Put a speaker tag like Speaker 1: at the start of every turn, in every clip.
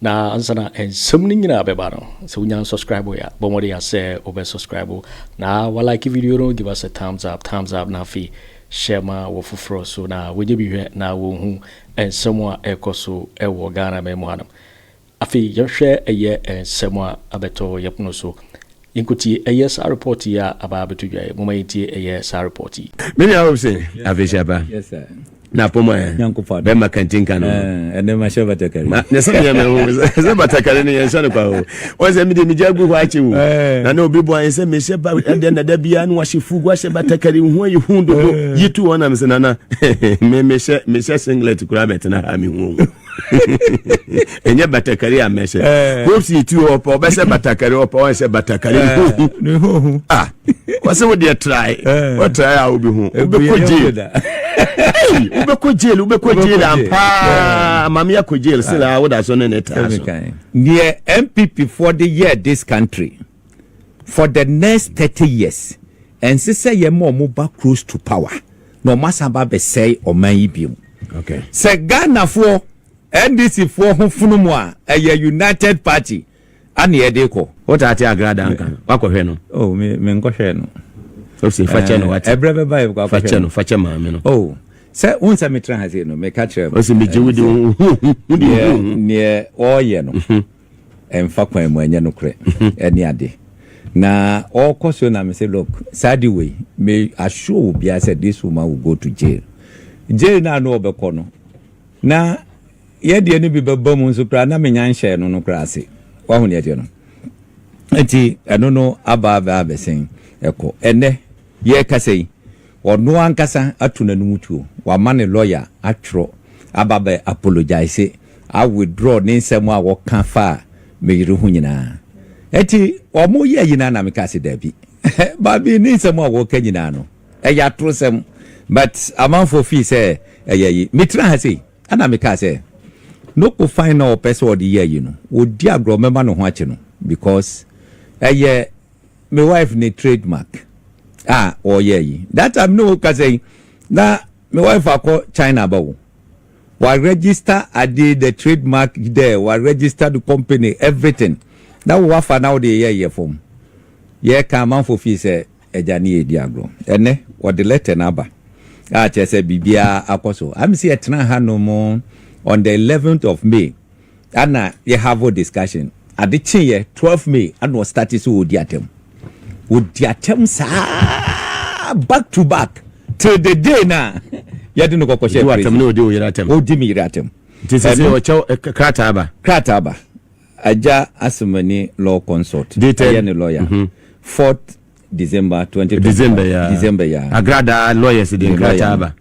Speaker 1: Na ansa na nsɛm no nyinaa bɛba no, sɛ wonya unsubscribe yɛ a, bɔ mmɔden a sɛ wobɛ subscribe na wa like video no, give us a thumbs up, thumbs up, na afei hyɛ ma wɔ foforɔ so na wɔnyɛ bi hwɛ na wɔnhu nsɛm a ɛrekɔ so wɔ Ghana man mu hanom. Afei yɛnhwɛ ɛyɛ nsɛm a abɛtɔ yɛpono so. Yɛnkɔtie ɛyɛ saa report yi a aba abɛto dwa yi. Momma yɛntie ɛyɛ saa report yi. Me nua hope se
Speaker 2: afei hyɛ aba
Speaker 3: na apɔmu ayɛ
Speaker 2: bɛma
Speaker 3: kantinka
Speaker 2: no ma
Speaker 3: ne se neɛ me ho
Speaker 2: se batakari no yɛnhyɛ no kwa o wɔn sɛ medeɛ megya gu hɔ akye o na na obi boa yɛn sɛ mehyɛ ba ɛdeɛ na da biara no wahyɛ fugu ahyɛ batakari ho ayɛ hu dodo yi tu wɔn nam se nana me mehyɛ mehyɛ singlet koraa bɛtena ha me hu o ɛnyɛ batakari a mɛsɛ eh. hope si ti hɔ pɛ ɔbɛsɛ batakari ɔpɛ wɔn sɛ batakari eh. ne ho hu
Speaker 3: ah wɔsɛ
Speaker 2: wo deɛ trae eh. wɔtrae a wobi ho wobɛkɔ jail wobɛkɔ jail wobɛkɔ jail ampaa maame akɔ jail sɛ la ah. woda so ne ne taa so deɛ
Speaker 3: npp foɔ de yɛɛ this country For the next thirty years ɛnse sɛ yɛ ma ɔmo ba close to power na ɔmo asan ba abɛsɛe ɔman yi biom. Sɛ
Speaker 2: Ghana foɔ
Speaker 3: NDC foɔ ho fono mo a ɛyɛ united party ana yɛ de kɔ. Wo taa te Agra daa
Speaker 2: nka no, wakɔ hwɛ no? Oh me me nkɔ hwɛɛ
Speaker 3: no. Ose fa kyɛ
Speaker 2: no wate. Ɛbrɛ bɛba yɛ bɛkɔ akɔ hwɛ no. Fa kyɛ
Speaker 3: no, fa kyɛ maame no.
Speaker 2: Oh sɛ
Speaker 3: wohu sɛ me tra ha sei no me ka kyerɛ. Ose me gye wo di wo
Speaker 2: ho hu, wo di wo ho hu. Neɛ
Speaker 3: ɔɔyɛ no. ɛmfa kwan mu ɛnyɛ nokorɛ ɛne ade na ɔkɔ so na mese look saa de wei me assure wo bia sɛ this woman will go to jail jail na ano ɔbɛkɔ no na yɛdeɛ no bi bɛba mu nso koraa na menya nhyɛɛ no no koraa ase wahu deɛ ɛteɛ no nti ɛno no aba abɛsen ɛkɔ ɛnɛ Yɛrekasa yi, ɔno ankasa ato n'anom tuo, wama ne lɔya atwerɛ aba abɛ apologise, a withdraw ne nsɛm a ɔka faa me yere ho nyinaa. Ɛnti wɔyɛɛ nyinaa na mekaa sɛ daabi. Baabi, ne nsɛm a ɔka nyinaa no, ɛyɛ atorosɛm, but amanfoɔ feel sɛ ɛyɛ ayi. Metraa ha sei, ɛna mekaa sɛ, no kofan no a ɔpɛ sɛ ɔde yɛ ayi no, ɔdi agorɔ, mɛma ne ho akye no, because ɛyɛ me wife ne trade mark a wɔyɛ yi that time ne wo kasa yi na me wife akɔ China ba wo wa register ade the trade mark there wa register the company everything na wo wafa na wo de yɛ yɛ fam yɛ ka amanfo fi sɛ ɛgya ne yɛ di agorɔ ɛnɛ wɔde letter na aba a kyerɛ sɛ biribiara akɔ so amsi ɛtena ha no mo on the 11th of May ana yɛ have discussion ade kyeeɛ twelve may ana ɔstarte sɛ ɔdi atɛm ɔdi atɛm saa back to back till the day na yɛde no kɔkɔhyɛ Ɔdi w'atɛm na ɔdi wo yere atɛm.
Speaker 2: ɔdi me yere atɛm
Speaker 3: Nti sɛ sɛ Ɛno- ɔkyɛw
Speaker 2: eh, k- krataa ba. krataa ba agya asomani law consult Dated- ɛyɛ ne lawyer
Speaker 3: fourth december 20 December ya. december ya Agradaa lawyers
Speaker 2: de Ne lawyer nkrataa no. ba.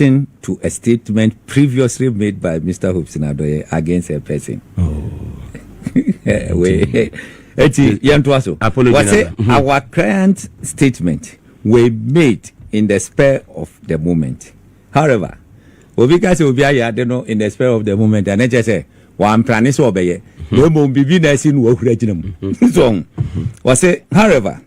Speaker 3: Reaction to a statement previously made by Mister Hobson Adoye against a person. Eti yɛn to aso. Wɔsi our client statement were made in the spur of the moment. However, obi ka sɛ obi ayɛ ade no in the spur of the moment ɛne kyɛ sɛ wɔamprane sɛ ɔbɛyɛ na mmom biribi na asi no wahura gyina mu. So wɔsi however.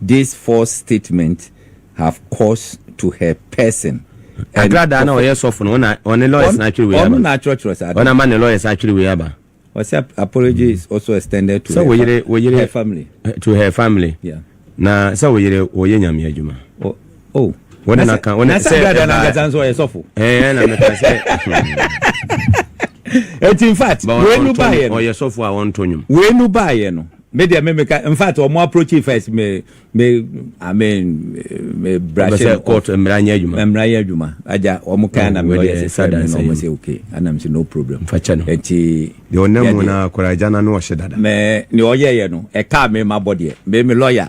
Speaker 3: this false statement have cause to her person and Agradaa no a
Speaker 2: ɔyɛ sɔfo no ɔna ɔne lawyers no atwere wei aba. Ɔno na atwerɛtwerɛ saa da. Ɔna ama
Speaker 3: ne lawyers atwere
Speaker 2: wei aba. Ɔsɛ apology
Speaker 3: is also extended to her, yere, yere, her family.
Speaker 2: To
Speaker 3: her family.
Speaker 2: Yeah. Na
Speaker 3: sɛ wo yere
Speaker 2: wɔyɛ nyame adwuma. oh
Speaker 3: wɔn na kan wɔn
Speaker 2: na sɛ ɛbaa na ankasa nso ɔyɛ
Speaker 3: sɔfo ɛɛ na mɛka sɛ ɛti in fact wɛnu baayɛ no ɔyɛ sɔfo a wɔntɔ nwom
Speaker 2: wɛnu baayɛ no
Speaker 3: me deɛ me meka in fact wɔn approach first me me i mean me brush it court mmara nyɛ
Speaker 2: adwuma mmara nyɛ adwuma
Speaker 3: agya wɔn kan na me ɔyɛ sɛ sɛ na wɔn sɛ okay anam sɛ no problem fakyɛ no ɛti
Speaker 2: deɛ ɔnam
Speaker 3: mu na
Speaker 2: akora agya na no ɔhyɛ dada mɛ ne ɔyɛ yɛ
Speaker 3: no ɛkaa me ma bɔ deɛ me me lawyer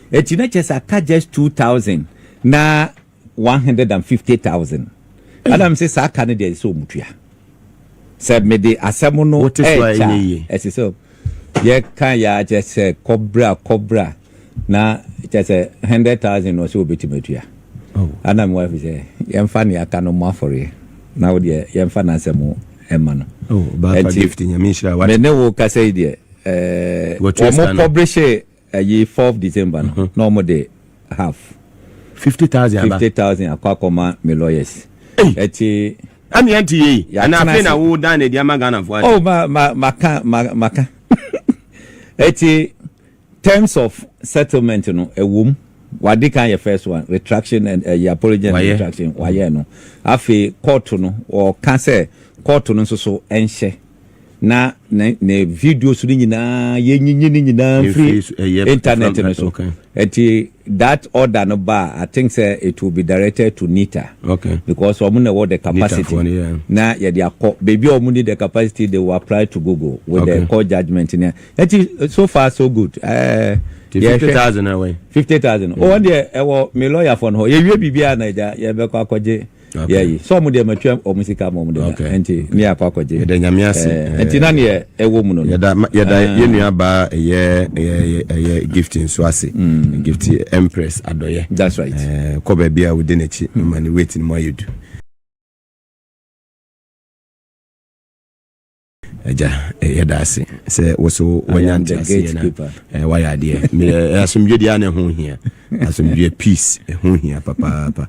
Speaker 3: Eti na kyerɛ sɛ aka just two thousand na one hundred and fifty thousand. Ɛna me se saa ka no deɛ ɛsɛ sɛ ɔmo tua. Sɛ me de asɛm no ɛɛkyɛ
Speaker 2: a ɛsɛ sɛ
Speaker 3: yɛ ka yɛ a kyerɛ sɛ kɔbra kɔbra na kyerɛ sɛ hundred thousand na ɔsɛ ɔbɛtumi atua. Ɛna me
Speaker 2: wife sɛ
Speaker 3: yɛmfa ne aka no mo afɔreɛ na wo deɛ yɛmfa n'asɛm ɛma no. Ɛnti
Speaker 2: me ne wo kasa yi
Speaker 3: deɛ ɛɛ ɔmo kɔbre hyɛ ɛyi fourth december no na ɔmo de half fifty thousand aba fifty thousand akɔ akɔma me lawyers ɛti ɛmi ɛnti
Speaker 2: yie yi ɛna afei na wo dan na ɛdi ama ghana fo ati oh ma ma ma ka
Speaker 3: ma ma ka ɛti terms of settlement no ɛwom wadi kan yɛ first one retraction and ɛyɛ eh, apology and retraction wayɛ no afei kɔɔto no ɔka sɛ kɔɔto no nso so ɛnhyɛ. na ne videos no nyinaa yɛnyinyi no nyinaa mfiri internet no so nti that order no ba i think sɛ it will be directed to nita okay. because wɔn na ɛwɔ the capacity no, yeah. na yɛde akɔ baabi a wɔn ni the capacity they will apply to google with okay. the court judgement no nti so far so good uh, fifty thousand
Speaker 2: away fifty thousand wɔn deɛ
Speaker 3: ɛwɔ me lawyer fɔ no hɔ yɛwie biribiara na ɛgya yɛbɛkɔ akɔgye okay. yɛyi sɛ ɔmo deɛ matwa ɔmo sika ma ɔmo de okay. na nti ne yɛ akɔ akɔgye yɛda nyame ase eh, eh,
Speaker 2: nti na neɛ
Speaker 3: ɛwɔ mu no yɛda yɛda eh. yɛ
Speaker 2: nua baa ɛyɛ ɛyɛ ɛyɛ gift nso ase mm. gift empress adɔyɛ that's right eh,
Speaker 3: kɔ baabi a wode
Speaker 2: n'akyi mm. ma ne weight no mu ayɛ du Agya, yɛda ase sɛ wo so wanya nteaseɛ na wayɛ adeɛ. Asomdwe deɛ ana ɛho hia. Asomdwe peace ɛho hia papaapa.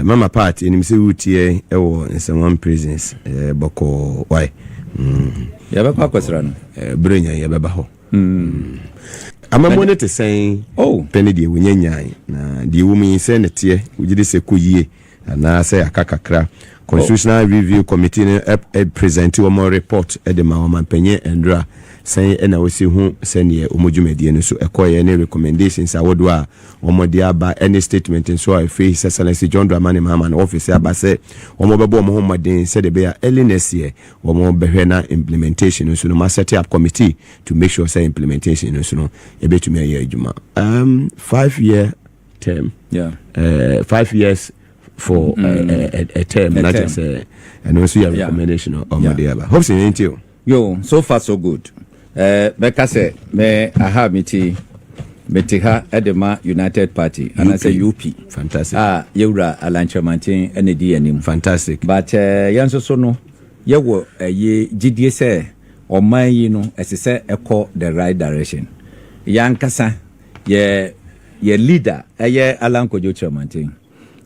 Speaker 2: Mama part ɛnim sɛ wotiɛ ɛwɔ nsɛmwam prisons bɔkɔɔ wae. Mm.
Speaker 3: Yɛbɛkɔ akɔsra no. Berɛ nya yɛbɛba
Speaker 2: hɔ. Mm. Amamuo no te sɛn oh. pɛ ne deɛ wɔnya nyae na deɛ wɔ mu yi sɛ ne teɛ wogye de sɛ kɔ yie Anaasɛ yɛaka kakra. Constitutional Review Committee no presente wɔn report de ma Ɔmanpanyin Andra. Sɛn na wosi hu sɛdeɛ wɔn dwumadie no so kɔeɛ ne recommendations ahodoɔ a wɔde aba ne statement nso a ɛfiri His Excellency John Dramani Mahama no office aba sɛ wɔbɛbɔ wɔn ho mmɔden sɛdeɛ ɛbɛyɛ a early next year wɔbɛhwɛ na implementation no nso no wɔn set up committee to make sure sɛ implementation no nso no ɛbɛtumi ayɛ adwuma. Um, five year term yeah. uh, five years for mm. uh, uh, a, a term na kyerɛ sɛ ɛno nso yɛ recommendation ɔmode aba hope sɛ yɛnti o yo so far so
Speaker 3: good eh, bɛka sɛ me aha mete mete ha de ma united party anaasɛ up fantastic a
Speaker 2: yɛwura
Speaker 3: alankyerɛmanten ɛna di anim fantastic but eh,
Speaker 2: yɛn nso
Speaker 3: so no yɛwɔ ɛyɛ gyidie sɛ ɔman yi no ɛsɛ sɛ ɛkɔ the right direction yɛankasa Yɛ yɛ leader ɛyɛ Alan Kojo Kyerɛmanten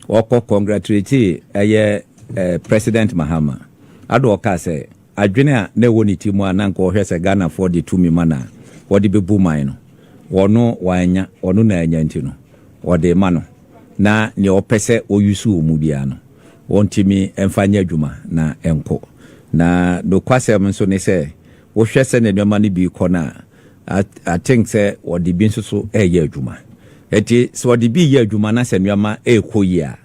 Speaker 3: ɔkɔ congratulating ɛyɛ eh, President Mahama ado ɔkaa sɛ adwene a na ɛwɔ ne ti mu a na nka ɔhwɛ sɛ Ghanafoɔ de tumi ma na wɔde bɛbu man no ɔno wanya ɔno na anya nti no ɔde ma no na nea ɔpɛ sɛ ɔyusu wɔ mu biara no ɔntumi mfa nyɛ adwuma na ɛnkɔ na nokwasɛm nso ne sɛ wohwɛ sɛ ne nneɛma no bi kɔ no a I think sɛ wɔde bi nso so reyɛ adwuma. Eti sɛ wɔde bi reyɛ adwuma na sɛ nneɛma rekɔ yie a,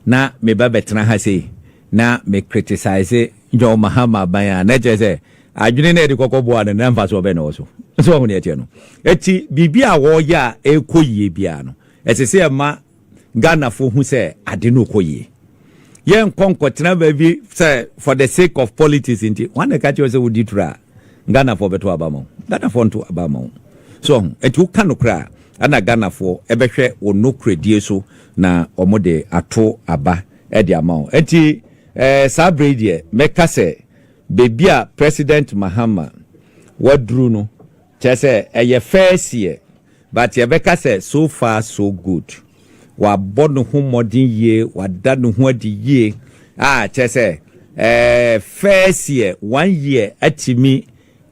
Speaker 3: na meba bɛtena ha sei na me criticize John Mahama aban a, na ɛkyerɛ sɛ adwene na yɛde kɔkɔ boa no, na mfasoɔ bɛn na ɛwɔ so? So wɔn deɛ ɛteɛ no. Eti biribi a wɔreyɛ a ɛrekɔ yie biara no, ɛsɛ sɛ ɛma Ghanafoɔ hu sɛ ade no rekɔ yie. Yɛnkɔ nkɔtena baabi sɛ for the sake of politics nti. Wɔn na ɛka kyerɛ wo sɛ wodi turo a, Ghanafoɔ bɛto aba ma wo. Ghanafoɔ nto aba ma wo. So ɔho, ɛnti woka nokorɛ a, ɛna Ghanafoɔ ɛbɛhwɛ wo nokorɛdie so na wɔde ato aba de ama wo. Ɛnti ɛɛ saa berɛ yi deɛ, mɛka sɛ baabi a President Mahama waduru no, Kyerɛ sɛ ɛyɛ first year but yɛbɛka sɛ so far so good. Wabɔ ne ho mmɔden yie, wada ne ho adi yie a kyerɛ sɛ ɛɛ first year, one year atumi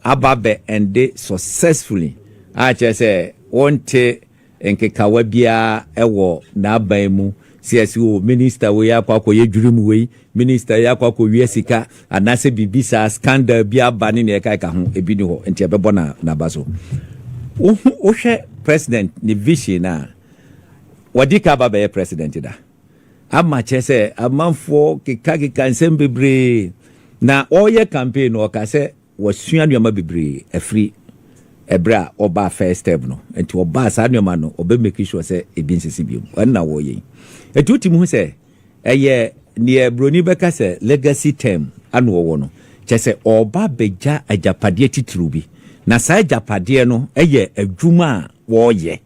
Speaker 3: aba abɛ ende successfully a kyerɛ sɛ wonte Nkekawa biara wɔ n'aban mu. Sɛ yɛse o minister wei akɔ akɔyɛ dwirim wei, minister yi akɔ akɔwia sika anaasɛ biribi saa, scandal bi aba ne nea ɛkaeka ho, ebi nni hɔ nti ɛbɛbɔ n'aba so. Wohu, wohwɛ president ne vision no a, wadi ka aba bɛyɛ president da. Ama kyerɛ sɛ amanfoɔ kekakeka nsɛm bebree. Na ɔreyɛ campaign no ɔka sɛ Wasua nneɛma bebree afiri ɛberɛ a ɔbaa first term no. Nti ɔbaa saa nneɛma no ɔbɛ make sure sɛ ebi nsisi bio. Ɛno na wɔyɛ yi. Nti wotumi hu sɛ ɛyɛ deɛ broni bɛka sɛ legacy term ana ɔwɔ no. Kyerɛ sɛ ɔreba abɛgya agyapadeɛ titiriw bi. Na saa agyapadeɛ no yɛ adwuma a wɔreyɛ,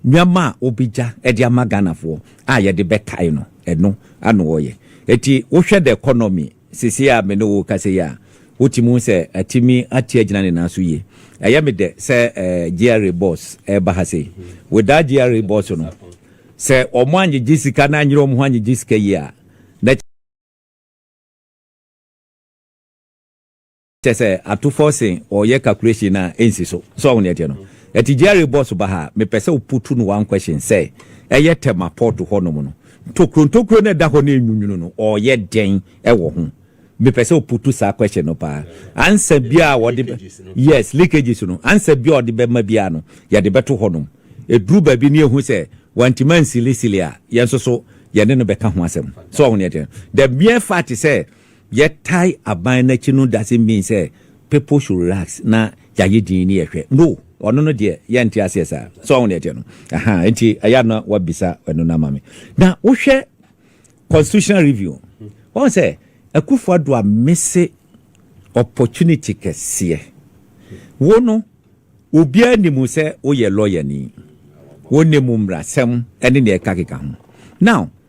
Speaker 3: nneɛma a wɔbɛgya de ama Ghanafoɔ a yɛde bɛkae no, ɛno ana ɔreyɛ. Nti wohwɛ the economy Seesei a me ne wo rekasa yi a, wotumi hu sɛ atumi ate agyina ne nan so yie. Ɛyɛ me dɛ sɛ GRA bɔs reba ha sei. Without GRA bɔs no, sɛ wɔangyegye sika no anyere wɔn ho angyegye sika yie a, na Kyɛ sɛ ato fɔ se ɔyɛ calculation na ɛnsi so. So wahu nea ɛteɛ no? Ɛte Jerry boss ba ha a, mepɛ sɛ wo putu no one question sɛ ɛyɛ Tema port hɔ nom no, ntokuro ntokuro no a ɛda hɔ no a ɛnwunwunu no, ɔyɛ dɛn wɔ ho? Mepɛ sɛ wo putu saa question no paa. Answer biara a ɔde bɛ, yes, leakages no, answer biara a ɔde bɛma biara no, yɛde bɛto hɔ nom. Ɛduru baabi na yɛhu sɛ wantumi ansilisili a, yɛn nso so yɛne no bɛka ho asɛm. So wahu nea ɛteɛ no? The mere fact sɛ Yɛtae aban no akyi no doesn't mean sɛ people should relax na yɛayɛ dinn ne yɛhwɛ. No, ɔno no deɛ yɛnte aseɛ saa. So wahu deɛ ɛteɛ no? Ahaa, enti ɛyɛ a na woabisa ɛno no ama me. Na wohwɛ constitutional review, wahu sɛ Akufo Addo ammese opportunity kɛseɛ. Wo no, obiara nim wo sɛ woyɛ lɔyani. Wonim mmrasɛm ne nea ɛkakeka ho. Now,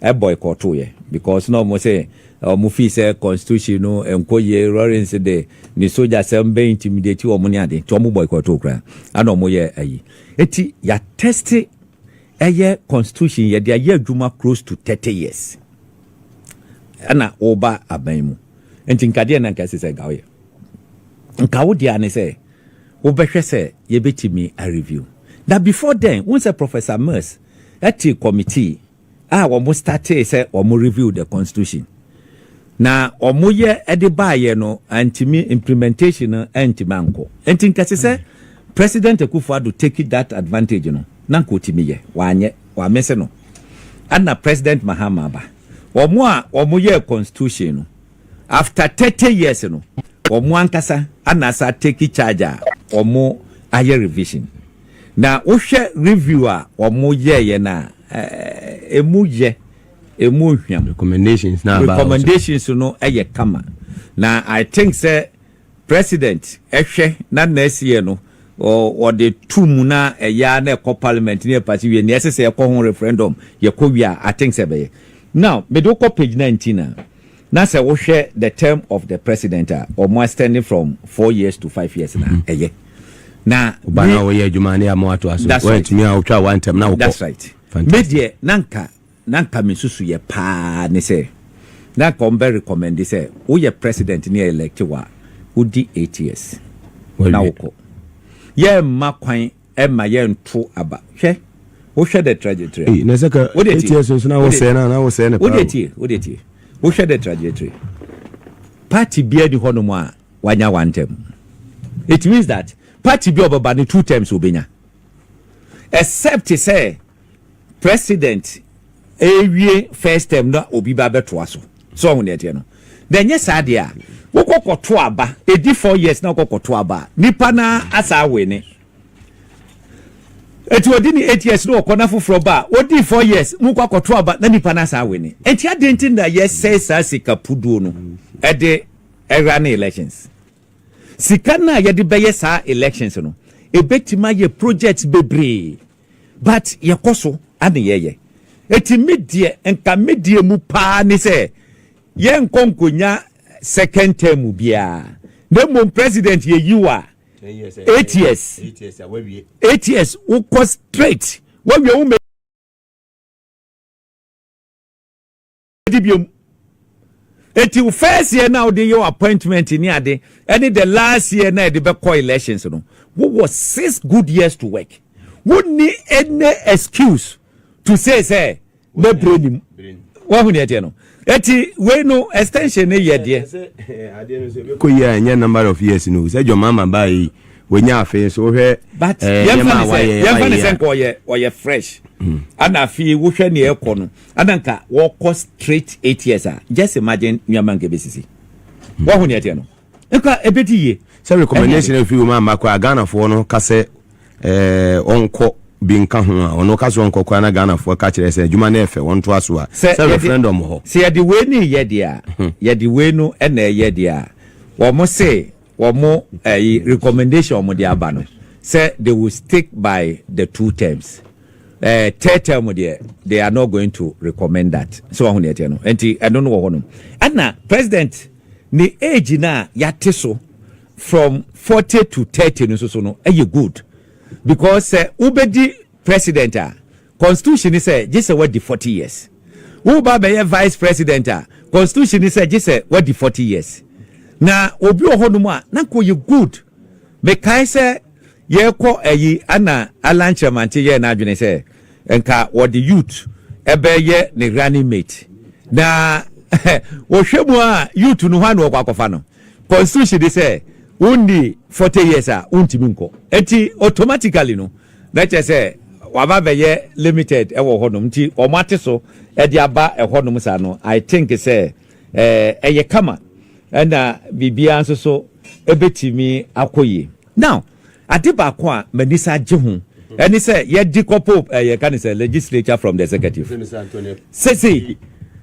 Speaker 3: boycottoeɛ because na ɔmo se ɔmo feel sɛ constitution no nkɔ yie, Rawlings de ne sogyasɛm bɛ intimidate ɔmo ne ade nti ɔmo boycotto koraa ɛna ɔmo yɛ ayi. Eti ya teste ɛyɛ constitution yɛde ayɛ adwuma close to thirty years ɛna woba aban mu nti nka deɛ na nka ɛsɛ sɛ nka woyɛ nka wo deɛ ne sɛ wobɛhwɛ sɛ yɛbɛtumi a review na before then wo sɛ Professor Mills Ethic committee a wɔn startee sɛ wɔn review the constitution na wɔn yɛ de baayɛ no antumi imprementation no antumi ankɔ nti nka ɛsɛ sɛ president Akufo Addo take that advantage no na nka ɔtumi yɛ wanyɛ wamese no ɛna president Mahama aba wɔn a wɔn yɛ constitution no after 30 years no wɔn ankasa ana asa take charge a wɔn ayɛ revision Na wohwɛ review a wɔn yɛɛyɛ no a, ɛmu yɛ, ɛmu nhwam. Recommendations no a ɛbaa hɔ nso. Recommendations no yɛ kama. Na I think sɛ President hwɛ na nea ɛsiyɛ no ɔde to mu na ɛyɛ ara na ɛkɔ Parliament na ɛpase wie, nea ɛsɛ sɛ ɛkɔ ho referendum yɛkɔ wie a, I think sɛ ɛbɛyɛ. Now, mede wo kɔ page 19 a. Na sɛ wo hwɛ the term of the president a ɔmo extending from four years to five years na mm-hmm. ɛyɛ na ɔba na ɔyɛ adwuma
Speaker 2: ne ama wato aso wɔatumi a wotwa wa ntɛm na wokɔ that's right me
Speaker 3: deɛ na nka na nka me susu yɛ paa ne sɛ na nka ɔmbɛ recommend sɛ woyɛ president ne elect wa wodi eight years na wokɔ yɛ mma kwan ɛmma yɛnto aba. Hwɛ, wohwɛ dɛ trajectory a. Ei, na sɛ ka ATS
Speaker 2: nso na wosɛe no a, na wosɛe no paa o. Wodeɛ tie, wodeɛ tie.
Speaker 3: Wohwɛ dɛ trajectory, party biara nni hɔnom a wanya one term. It means that party bi a ɔbɛba no two terms obenya. Except sɛ president ewie first term na obi ba bɛtoa so so ɔho deɛ teɛ no na ɛnyɛ saa deɛ a wokɔ kɔto aba ɛdi four years na wokɔ kɔto aba a nipa na asa awe ne eti odi ni eight years na ɔkɔ na foforɔ ba a odi four years mu kɔ akɔto aba na nipa na asa awe ne eti adi nti na yɛsɛe saa sika puduo no ɛde ɛra ne elections sika no a yɛde bɛyɛ saa elections no ebetumi ayɛ projects bebree. But yɛkɔso ne yɛyɛ. Enti me deɛ nka me deɛ mu paa ne sɛ yɛnkɔ nkonya second term biaa na mmom president yɛyi wo a eight years eight years wokɔ straight wawie wo di biom eti wo first year na wode yɛ appointment ni ade ɛne the last year na ɛde bɛkɔ elections no wowɔ six good years to work wonni any excuse to say sɛ na bere nim wahu deɛ ɛteɛ no eti wei no extension ne yɛ deɛ kɔ
Speaker 2: yi a ɛnyɛ number of years no sɛ dwɔma ama baa yi wɔnya afei so wohwɛ eh,
Speaker 3: yɛmfa ne sɛ nkɔ ɔyɛ fresh hmm. ana afei wohwɛ neɛ ɛkɔ no Ada nka wɔkɔ straight eight years a just imagine nneɛma nka ebesisi. Wahu nea ɛteɛ no. Nka ebedi yie. Sɛ recommendation afi
Speaker 2: wɔn amma koraa Ghanafoɔ no ka sɛ eh, ɔnkɔ bi nka ho a, ɔno ɔka sɛ ɔnkɔ koraa na Ghanafoɔ ka kyerɛ sɛ adwuma no yɛ fɛ, wɔntoa so a, Sɛ sɛ yɛde referendum wɔ hɔ. sɛ yɛde wei no reyɛ
Speaker 3: deɛ a, yɛde wei no na ɛyɛ deɛ a, wɔn se wɔn ɛyi recommendation wɔn de aba no sɛ they will stick by the two terms ɛɛ eh, third term deɛ they are not going to recommend that so wɔn ho deɛ ɛteɛ no nti ɛno no wɔ hɔ nom ɛna president ne age na yate so from forty to thirty no nso so no ɛyɛ good because sɛ wobɛdi president a Constitution ne sɛ gye sɛ wadi forty years. Wo ba bɛyɛ vice president a, constitution ne sɛ gye sɛ wadi forty years. Na obi wɔ hɔ nom a na nka ɔyɛ good. Me kae sɛ yɛrekɔ ayi ɛna Allan Kyeremantse yɛɛ n'adwene sɛ nka wɔde youth bɛyɛ ne running mate. Na wohwɛ mu a youth no hwan na wɔkɔ akɔfa no? Constitution ne sɛ wonni forty years a wontumi nkɔ. Nti automatically no Na kyerɛ sɛ waba abɛyɛ limited wɔ hɔ nom nti wɔn ate so de aba hɔ nom saa no I think sɛ ɛyɛ kama ɛna biribiara nso so ɛbɛtumi akɔ yie. Now ade baako a m'ani san gye ho ɛne sɛ yɛde kɔ po yɛ ka no sɛ legislature from the executive sesei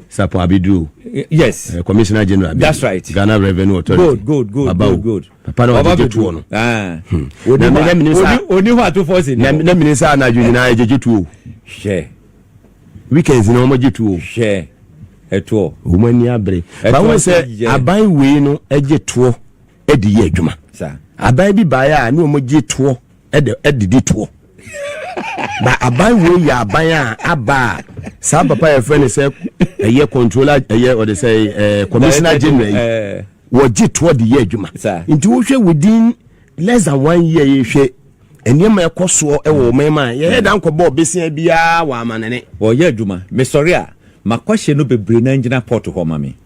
Speaker 3: Sapon
Speaker 2: Abeduru, yes, eh,
Speaker 3: Commissioner General Abeduru,
Speaker 2: that's right, Ghana
Speaker 3: Revenue Authority,
Speaker 2: good, good, good, good, good.
Speaker 3: papa na ɔgyegye
Speaker 2: tuo no
Speaker 3: ɔni hɔ atofoɔ si na mene sɛ anadwo
Speaker 2: nyinaa ɛgyegye tuo hwɛ weekends na ɔmɔgye tuo hwɛ
Speaker 3: ɛtoɔ wɔn ani abere
Speaker 2: bawo sɛ aban wei no ɛgye toɔ ɛde yɛ adwuma aban bi
Speaker 3: baeɛ
Speaker 2: a ne ɔmɔgye toɔ ɛde ɛdidi toɔ na aban wei yɛ aban a aba a saa papa yɛ fɛ ne sɛ ɛyɛ controller ɛyɛ ɔde sɛ ɛɛ commissioner general yi eh. wɔgye toɔ de yɛ adwuma nti wohwɛ within less than one year yɛ hwɛ nneɛma ɛkɔ soɔ ɛwɔ wɔn mɛma yɛyɛ dan kɔbɔ ɔbesia biara wɔ amanene. wɔyɛ adwuma
Speaker 3: mesɔre a makɔhyɛ no bebree na ngyina pɔt hɔ ma me.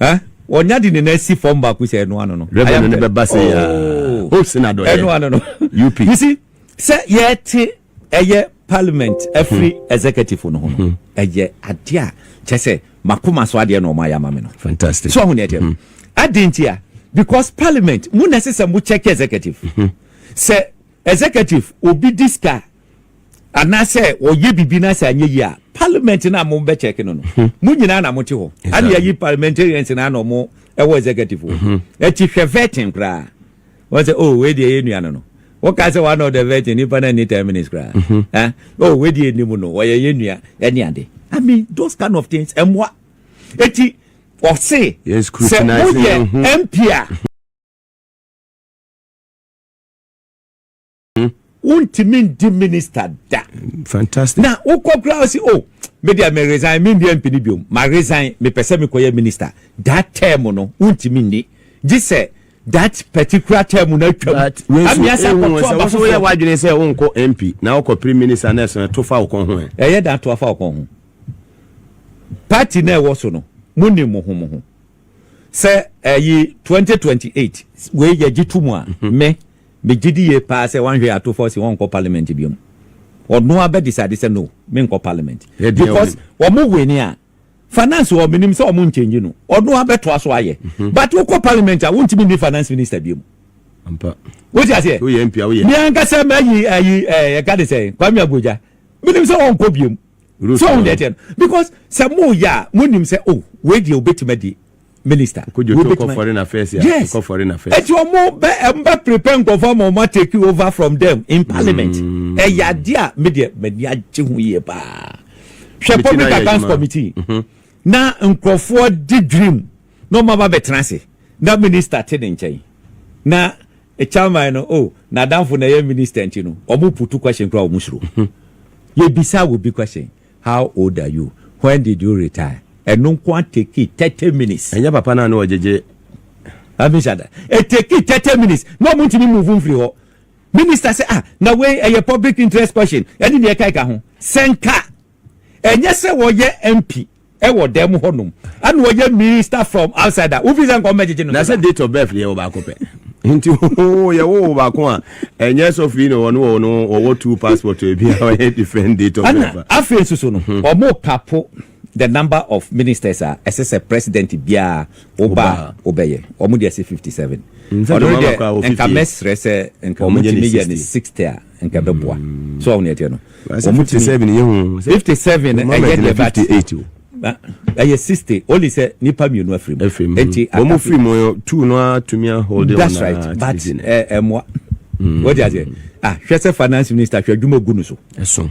Speaker 3: Eh? Ɔnya de ne nan si fam baako sɛ ɛno ano no. Rɛbɛ no ne bɛba sɛ yɛ.
Speaker 2: Oh. Hope sɛ na dɔyɛ. Ɛno ano no. UP.
Speaker 3: You see,
Speaker 2: sɛ
Speaker 3: yɛte ɛyɛ parliament afiri hmm. executive no ho no, hmm. ɛyɛ adeɛ a kyɛ sɛ makoma so adeɛ na ɔma yɛ ama me no. Fantastic. So ɔho ne ɛteɛ. Hmm. Adi nti a, because parliament, mu na ɛsɛ sɛ mo check executive. Sɛ executive, obi di sika anaasɛ wɔyɛ biribi na sɛ anyɛ yie a parliament no a mo bɛ kyɛke no no hmm. mo nyinaa na mo te hɔ ana yɛyi parliamentarians na ana ɔmo ɛwɔ executive hɔ hmm. ɛti hwɛ vetting koraa wɔn sɛ oh wei deɛ yɛ nua no no wɔka sɛ one of the vetting nipa na ni ten minutes koraa hmm. eh? oh wei deɛ anim no wɔyɛ yɛ nua ɛne ade i mean those kind of things ɛmoa ɛti ɔse sɛ
Speaker 2: moyɛ mp a
Speaker 3: Hmm? wontumi ndi minista da fantastic na
Speaker 2: wokɔ kura ɔsi
Speaker 3: o oh, media me resign me ndi mp ni biom ma resign mepɛ sɛ mekɔyɛ minista that term no wontumi nni gye sɛ that particular term na atwam ami asa kɔtɔ aba foforɔ woyɛ wadwene sɛ
Speaker 2: wonkɔ mp na wokɔ prime minister na ɛsɛ to fa wokɔ ho ɛ ɛyɛ da to afa wokɔ ho
Speaker 3: party na ɛwɔ so no mo nim mo ho mo ho sɛ ɛyi 2028 wei yɛgye to mu a me Me gye di yie paa sɛ wanhwɛ ato fɔ se wɔnkɔ parliament biom. Ɔno abɛ decide sɛ no menkɔ parliament. Because ɔmo wini a, finance wɔ hɔ menim sɛ ɔmo nkyɛngyi no. Ɔno abɛ toa so ayɛ. But wokɔ parliament a wontumi nni finance minister biom.
Speaker 2: Wote aseɛ?
Speaker 3: Me ankasa
Speaker 2: mayi
Speaker 3: ayi eh, yɛka de sɛ Kwame Abuja. Menim sɛ ɔnkɔ biom. So ɔho deɛ teɛ no. Because sɛ mo yɛ a, mo nim sɛ oh, wei deɛ obetumi adi. minister. Nkojoto kɔ foreign
Speaker 2: affairs ya. Yes. Kɔ foreign affairs.
Speaker 3: Eti
Speaker 2: omo bɛ ɛm
Speaker 3: bɛ prepare nkɔfɔ ma omo take you over from them in parliament. Mm. Ɛyɛ ade a me deɛ m'ani agye ho yie paa. Hwɛ public accounts committee. Mm -hmm. Na nkurɔfoɔ di dream na ɔmo aba bɛtena ase na minister te ne nkyɛn na chairman no oh na danfo na ɛyɛ minister nti no ɔmo putu question kura ɔmo soro. Mm -hmm. Yɛ bisa wo bi question. how old are you, when did you retire, ɛno nko ara tekii thirty minutes. Ɛnyɛ papa no a na ɔgyegye
Speaker 2: having
Speaker 3: said that, etekii thirty minutes na ɔmo ntumi move mfiri hɔ. Minister sɛ ah na wei ɛyɛ public interest question ɛne nea ɛka ɛka ho. Sɛ nka ɛnyɛ sɛ wɔyɛ MP ɛwɔ dɛm hɔ nom ɛna ɔyɛ minister from outside a wofiri sɛ nka ɔmo bɛgyegye no. Na sɛ date of birth yɛ wɔ
Speaker 2: baako pɛ nti hoo yɛ wo wɔ baako a. ɛnyɛ sɔfo yi na wɔn wɔ no wɔwɔ two passport ebi a wɔyɛ different date of birth. ɛna afei nso so no hmm.
Speaker 3: wɔn kapo the number of ministers a ɛsɛ sɛ president biara ɔba a ɔbɛyɛ wɔn de ɛsɛ fifty seven ɔno deɛ nka mɛsrɛ sɛ nka wɔn ti mi yɛ ne sixty a nka bɛboa hmm. so wɔn yɛ teɛ no. wɔn mu tumi.
Speaker 2: fifty seven no ɛyɛ
Speaker 3: deɛ
Speaker 2: but ɛyɛ
Speaker 3: sixty only sɛ nipa mmienu afiri mu. afiri mu nti wɔn mu firi mu
Speaker 2: yɛ two no a tumi ahoɔden wɔn na that's right but
Speaker 3: ɛmoa wọ́n ti ase ah hwɛ sɛ finance minister hwɛ adwuma ogu no so. ɛso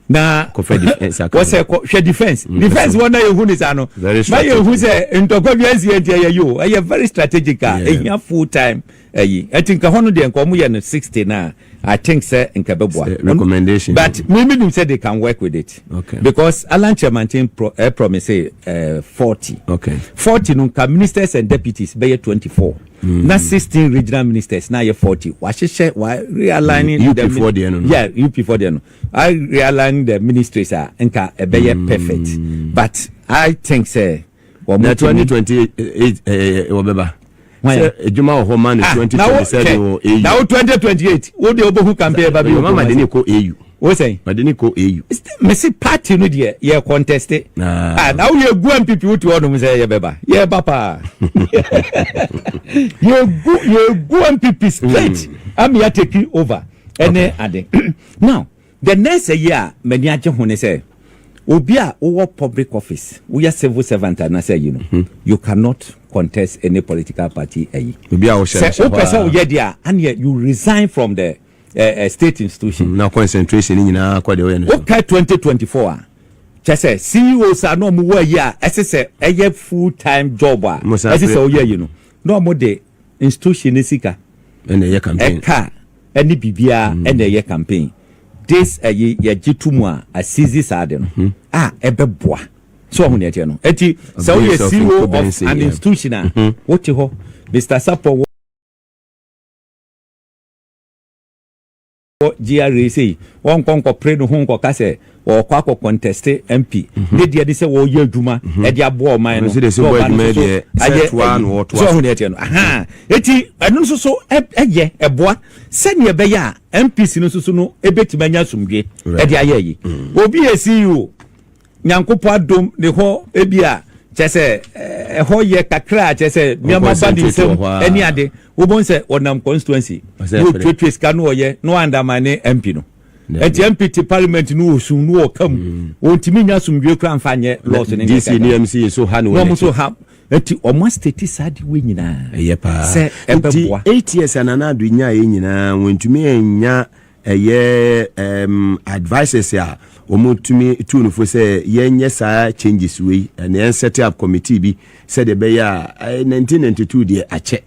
Speaker 2: na
Speaker 3: wɔsɛ kɔ hwɛ defence mm. defence wɔn na yɛ hu ne saa no na yɛ hu sɛ ntɔkwa bi ɛnsi ɛnti ɛyɛ yio ɛyɛ very strategic a ehia full time ayi nti nka hɔ no deɛ nka ɔmo yɛ no sixty na I think sɛ nka ɛbɛboa Sɛ recommendation but
Speaker 2: bi. me me nim sɛ
Speaker 3: they can work with it Okay. because Alan Kyerɛmanten pro eh, promise eh, forty Okay. forty no nka ministers and deputies bɛyɛ twenty four hmm. na sixteen regional ministers na ayɛ forty wahyehyɛ wa realigning mm. UP four deɛ no no
Speaker 2: yeah UP four deɛ no
Speaker 3: I realigning the ministries a nka ɛbɛyɛ mm. perfect but I think sɛ. wɔn na twenty twenty
Speaker 2: eight ɛɛ wɔbɛba sɛ edwuma wɔ hɔ ma ne ah, twenty twenty seven wɔ au na wo twenty twenty
Speaker 3: eight wo de obohu campaign ba bi o mama de ne kɔ au
Speaker 2: wo sɛn ma de ne kɔ
Speaker 3: au
Speaker 2: mesi party
Speaker 3: no deɛ yɛ contest ah. ah na wo yɛ gu npp wo ti hɔ nom sɛ yɛ bɛba yɛ ba paa yɛ gu yɛ gu npp straight hmm. ami ateki over ɛne ade now. Deɛ nnɛɛsɛ yi a m'ani agye ho ne sɛ, obi a wowɔ public office, woyɛ civil servant anaasɛ ayi no, you cannot contest any political party ayi. Obi a wohyɛ no hyɛ hɔ a.
Speaker 2: Sɛ wopɛ sɛ woyɛ deɛ a, aneɛ
Speaker 3: you resign from the eh, eh, state institution. Na concentration no
Speaker 2: nyinaa kɔ deɛ woyɛ no so. Wokɛ 2024
Speaker 3: a, kyɛ sɛ CEOs a na wɔn wɔ ayi a ɛsɛ sɛ ɛyɛ full time job a Mo san ɛsɛ pere- sɛ wɔyɛ ayi no, na wɔn de institution ne sika ɛna ɛyɛ campaign.
Speaker 2: ɛka ne
Speaker 3: biribiara na ɛyɛ campaign this ɛyi yɛgye to mu a asizi saa ade no a ɛbɛboa so ɔho nea ɛteɛ no ɛti sɛ woyɛ CEO of an institution a wote hɔ Mr. Sapɔ wɔ GRA sei wɔnkɔ nkɔpere ne ho nkɔka sɛ wɔkɔ akɔ conteste MP mm-hmm. ne deɛ de sɛ wɔyɛ adwuma mm-hmm. ɛde aboa ɔman no sɛ ɔba no so ayɛ
Speaker 2: ɛyi sɛ ɔho ne ɛteɛ no aha
Speaker 3: eti ɛno nso so ɛyɛ ɛboa sɛnea ɛbɛyɛ a MPC no nso so no ebetumi anya asomdwe ɛde ayɛ yi mm. obi yɛ CEO nyankopɔ adom ne hɔ ebi a kyɛ sɛ eh, ɛhɔ yɛ kakra a kyɛ sɛ nneɛma ba ne nsam ɛne ade wobɛhu sɛ ɔnam constituency ne ɔtuatua sika no ɔyɛ na wandama ne mp no ɛti mp te parliament no wɔ sun no wɔ ka mu mm. wɔntumi nya asomdwoe kora mfa nyɛ laws no nyɛ kɛkɛ na
Speaker 2: wɔn nso ha ɛti
Speaker 3: wɔn asitɛti saa de wɔ nyinaa ɛyɛ paa sɛ
Speaker 2: ɛbɛboa
Speaker 3: eight years anana
Speaker 2: ado nya yɛ nyinaa wɔntumi nya ɛyɛ ɛɛm advices a wɔn tumi tu no fo sɛ yɛnyɛ saa changes wei ɛna yɛn set up committee bi sɛdeɛ ɛbɛyɛ a nineteen ninety two deɛ akyɛ.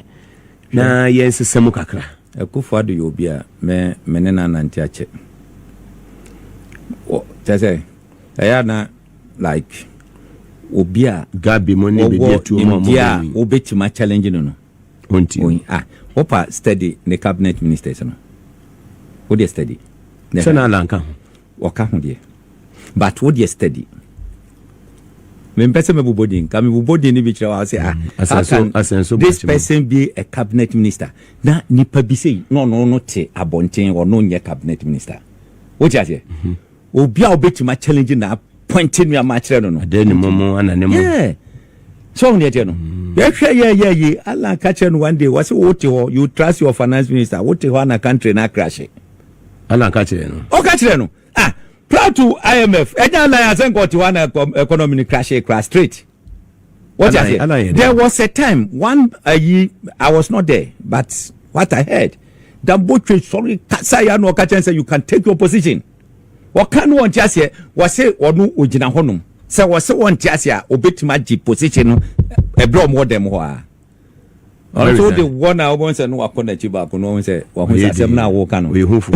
Speaker 2: na yɛnsesa mu kakra. Akuffo Addo yɛ obi
Speaker 3: a me me ne no anante akyɛ. Wɔ kyɛ sɛ ɛyɛ a na like obi a Gabi mo ne
Speaker 2: bɛdi atuo mu a wɔbɛwui.
Speaker 3: Wɔwɔ nimdeɛ a wobɛtumi a
Speaker 2: challenge
Speaker 3: no no. Ɔnti o. Ah, wopa study ne cabinet ministers no. Wodeɛ study. Sɛ na Alan ka
Speaker 2: ho. Ɔka ho deɛ
Speaker 3: but wo deɛ steady. Mempɛ sɛ mɛbobɔ din ka mebobɔ din no bi kyerɛ wa sɛ ah mm, how can this person be a cabinet minister na nipa bi sei na ɔno no te abɔnten ɔno nyɛ cabinet minister wote aseɛ mhm. obi a wobɛtumi achallenge na apɔinte nnuama akyerɛ no no yeah so ɔhu deɛ teɛ no mm. yɛhwɛ yɛyɛ yi ala ka kyerɛ no one day wɔ sɛ wote hɔ you trust your finance minister wote hɔ ana country no akrahye Ana ka
Speaker 2: kyerɛ no. Ɔka kyerɛ no.
Speaker 3: Ah, Plato IMF, ɛnyɛ anan asɛ nka ɔte hɔ ana economy no crashe kra straight. What you say? There was a time one ayi I was not there but what I heard. Dambotwe sorry kasa ya no ɔka kyerɛ sɛ you can take your position. Ɔka no ɔnte aseɛ wɔse ɔno ɔgyina hɔnom sɛ wɔse wɔnte aseɛ a ɔbɛtumi agye position no ɛberɛ ɔmo wɔ dɛm hɔ a. Ɔno nso wode wɔ na wobɛhu sɛ no wakɔ n'akyi baako na ɔhu sɛ wahu sɛ asɛm no a woka no. Ɔyɛ hufo.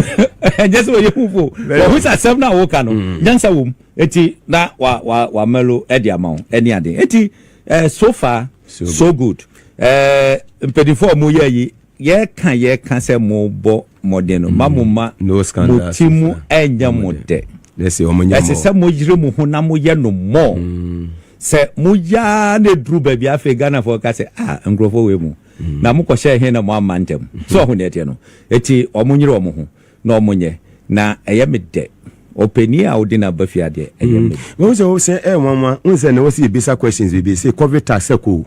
Speaker 3: Ɛnyɛ sɛ ɔyɛ hufo. Wahu sɛ asɛm no a woka no mm. nyansa wom. Eti na wa wa wa melo ɛde ama wo ɛne ade. Eti eh, so far so, so good. Eh, mpanimfoɔ a wɔyɛ yi Yɛreka yɛreka sɛ mobɔ mmɔden no, ma mo ma mo ti
Speaker 2: mu nyɛ
Speaker 3: mo dɛ. Ɛsɛ
Speaker 2: sɛ moyere mo ho
Speaker 3: na moyɛ no more. Sɛ moyɛ ara na eduru baabi a afei Ghanafoɔ ka sɛ, ah, nkurɔfoɔ wei mu, na mokɔhyɛɛ he na moamma ntɛm. So ɔho deɛ ɛteɛ no? Eti wɔnyere wɔn ho. na ɔmo nyɛ na ɛyɛ me dɛ ɔpɛnii a ɔdi na ba fie adeɛ ɛyɛ me dɛ. Wohu sɛ wo sɛ ɛyɛ
Speaker 2: nwanwa wohu sɛ ɛnɛ wɔsi yɛ bisa questions bebree sɛ covid tax sɛ kɔ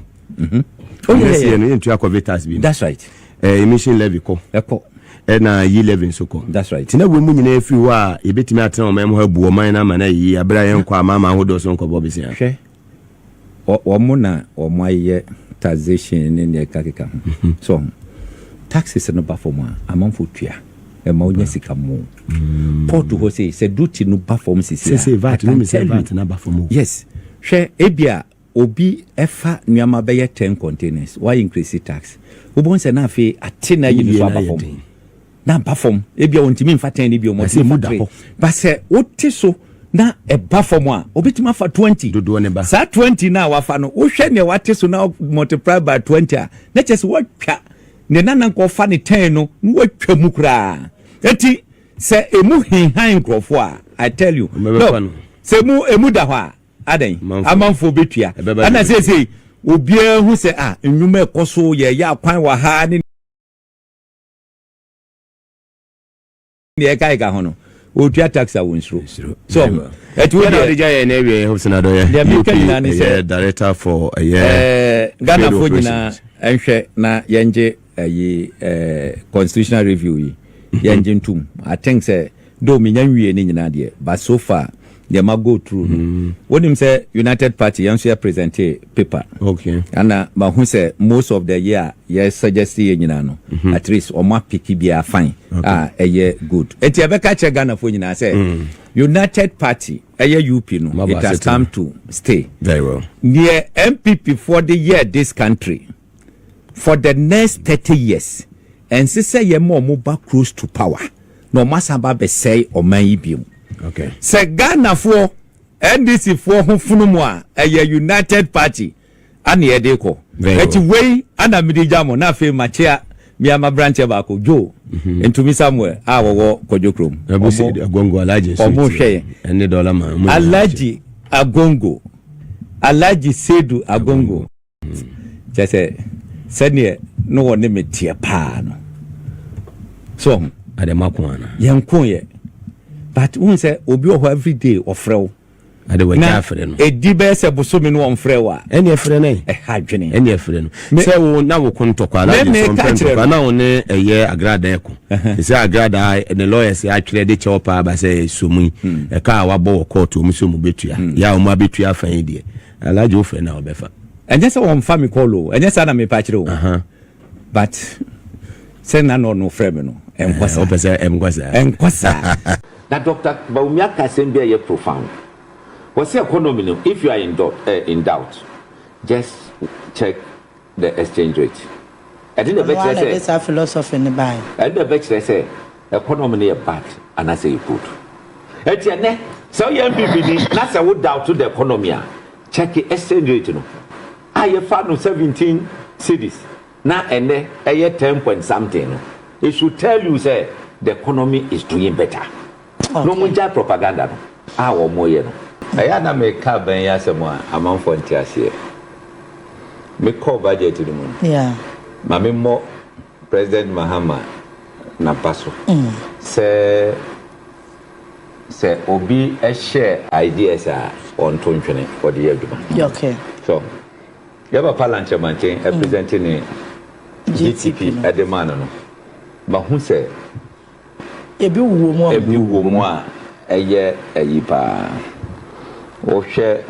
Speaker 2: o
Speaker 3: next year no yɛ ntua covid tax bi
Speaker 2: that's right ɛɛ
Speaker 3: emission levy
Speaker 2: kɔ ɛkɔ ɛna
Speaker 3: yi levy
Speaker 2: nso kɔ that's right tina wɔ mu nyinaa
Speaker 3: efiri hɔ
Speaker 2: a yɛbɛtumi atena wɔn ɛmo ha bu wɔn man na ama na yi abira yɛn kɔ ama ama ahodoɔ so nkɔbɔ besia hwɛ
Speaker 3: wɔn na wɔn ayɛ taxation ne nea ɛkakeka ho so taxes no ba fam a amanfo tua ɛma wonya mm. sika mu mm. port hɔ sei sɛ duty no ba fam sisi
Speaker 2: a yes hwɛ
Speaker 3: ebi a obi ɛfa nneɛma bɛyɛ ten containers why increase tax wobɛhu sɛ na afei ate na ayi no so aba fam na aba fam ebi a wɔntumi nfa ten ne bio wɔn ti mu da hɔ ba sɛ wote so na ɛba fam a obetumi afa twenty dodoɔ ne ba saa twenty
Speaker 2: na wafa
Speaker 3: no wohwɛ nea wate so na multiply by twenty a na kyerɛ sɛ watwa ne nana nkɔfa ne ten no na watwa mu koraa eti sɛ emu hinhan nkurɔfoɔ a i tell you no sɛ emu emu da hɔ a adan amanfoɔ betua ɛna seesei obiara hu sɛ a ah, nnwuma ɛkɔ so yɛyɛ akwan wɔ ha ne deɛ ɛka ɛka ho no wɔtua tax a wɔnsuro so ho ɛti wo deɛ ɔdegya yɛ na awie yɛ
Speaker 2: hobsona dɔyɛ deɛ meka nyinaa ne sɛ
Speaker 3: director for
Speaker 2: ɛyɛ
Speaker 3: ghanafoɔ nyinaa ɛnhwɛ na yɛngye ɛyi constitutional review yi yɛngye ntom i think sɛ Though menya nwie ne nyinaa deɛ but so far deɛ ma go through no wonim sɛ United party yɛn nso yɛ presentee paper Okay. ɛna
Speaker 2: mahu sɛ
Speaker 3: most of the year yɛ suggest yɛ nyinaa no at least wɔn apiki biara fine a ɛyɛ good enti ɛbɛka kyerɛ Ghanafoɔ nyinaa sɛ United party ɛyɛ UP no Maba it has asetena. come to stay Very well.
Speaker 2: deɛ NPP
Speaker 3: foɔ de yɛɛ this country For the next thirty years ɛnse sɛ yɛ ma ɔmo ba close to power na ɔmo asan ba abɛsɛe ɔman yi biom. Sɛ
Speaker 2: Ghana
Speaker 3: foɔ NDC foɔ ho fono mo a ɛyɛ united party ana yɛ de kɔ. Ɛti wei ana me de gya mo na afei ma kyea mea ma brankyɛ baako Joe Ntumi Samuel a wɔwɔ Kwadwo Krom
Speaker 2: ɔmo hwɛ yɛn.
Speaker 3: Alagye
Speaker 2: Agongo
Speaker 3: Alagye Sedu Agongo. Kyerɛ sɛ, sɛdeɛ na ɔne me teɛ paa no. So ɔho? Ade ma ko
Speaker 2: ana? Yɛn ko yɛ.
Speaker 3: But wohu sɛ obi wɔ hɔ every day ɔfrɛ wo. Ade wɔ gya
Speaker 2: afrɛ no. Ɛdi bɛyɛ sɛ bosome no
Speaker 3: ɔmfrɛ wo a. Ɛne ɛfrɛ no ɛ. Ɛha
Speaker 2: adwene. Ɛne ɛfrɛ
Speaker 3: no.
Speaker 2: Sɛ wo na wo ko ntɔkwa na ɔde sɔn pɛ ntɔkwa na wo ne ɛyɛ agradaa ɛko. Sɛ agradaa ne lawyers atwerɛ de kyɛw paa ba sɛ ɛsuomu yi. Ɛka a wabɔ wɔ court wɔn sɛ wɔn bɛtua. Yɛ a wɔn abɛtua afan yi deɛ. Alaje wo frɛ no a ɔbɛfa. Ɛnyɛ sɛ wɔmfa
Speaker 3: me call o, ɛnyɛ saa na mepɛ akyerɛ o. But sɛ na na ɔno frɛ me no, ɛnkɔ saa. Wopɛ sɛ ɛnkɔ saa?
Speaker 2: Ɛnkɔ
Speaker 3: saa. Na Doctor Bawumia ka asɛm bi a ɛyɛ profound. Ɔse economy no if you are in doubt just check The exchange rate. Ɛde na ɛbɛkyerɛ sɛ. Ɔno ara na ɛde saa philosophy no
Speaker 4: bae. Ɛde na ɛbɛkyerɛ sɛ
Speaker 3: economy no yɛ bad anaasɛ ɛyɛ good. Ɛnti ɛnɛ sɛ woyɛ NPP ni na sɛ wo doubt the economy a, check exchange rate no a yɛfa no 17 cedis na ɛnɛ ɛyɛ 10 point something no, it should tell you sɛ the economy is doing better. na wɔn gyae propaganda no a wɔn reyɛ no. Ɛyɛ a na me ka aban yi asɛm a amanfoɔ nte aseɛ. Me kɔ budget no mu no, ma me
Speaker 4: mmɔ
Speaker 3: President Mahama napa so sɛ, sɛ obi hyɛ ideas a, ɔnto ntwene, ɔde yɛ adwuma. So, yɛ papa Lankyɛ Manten present ne GTP de maa no no, ma hu sɛ,
Speaker 4: Ebi wɔ mu a. Ebi wɔ mu a ɛyɛ
Speaker 3: ayi paa. Wohwɛ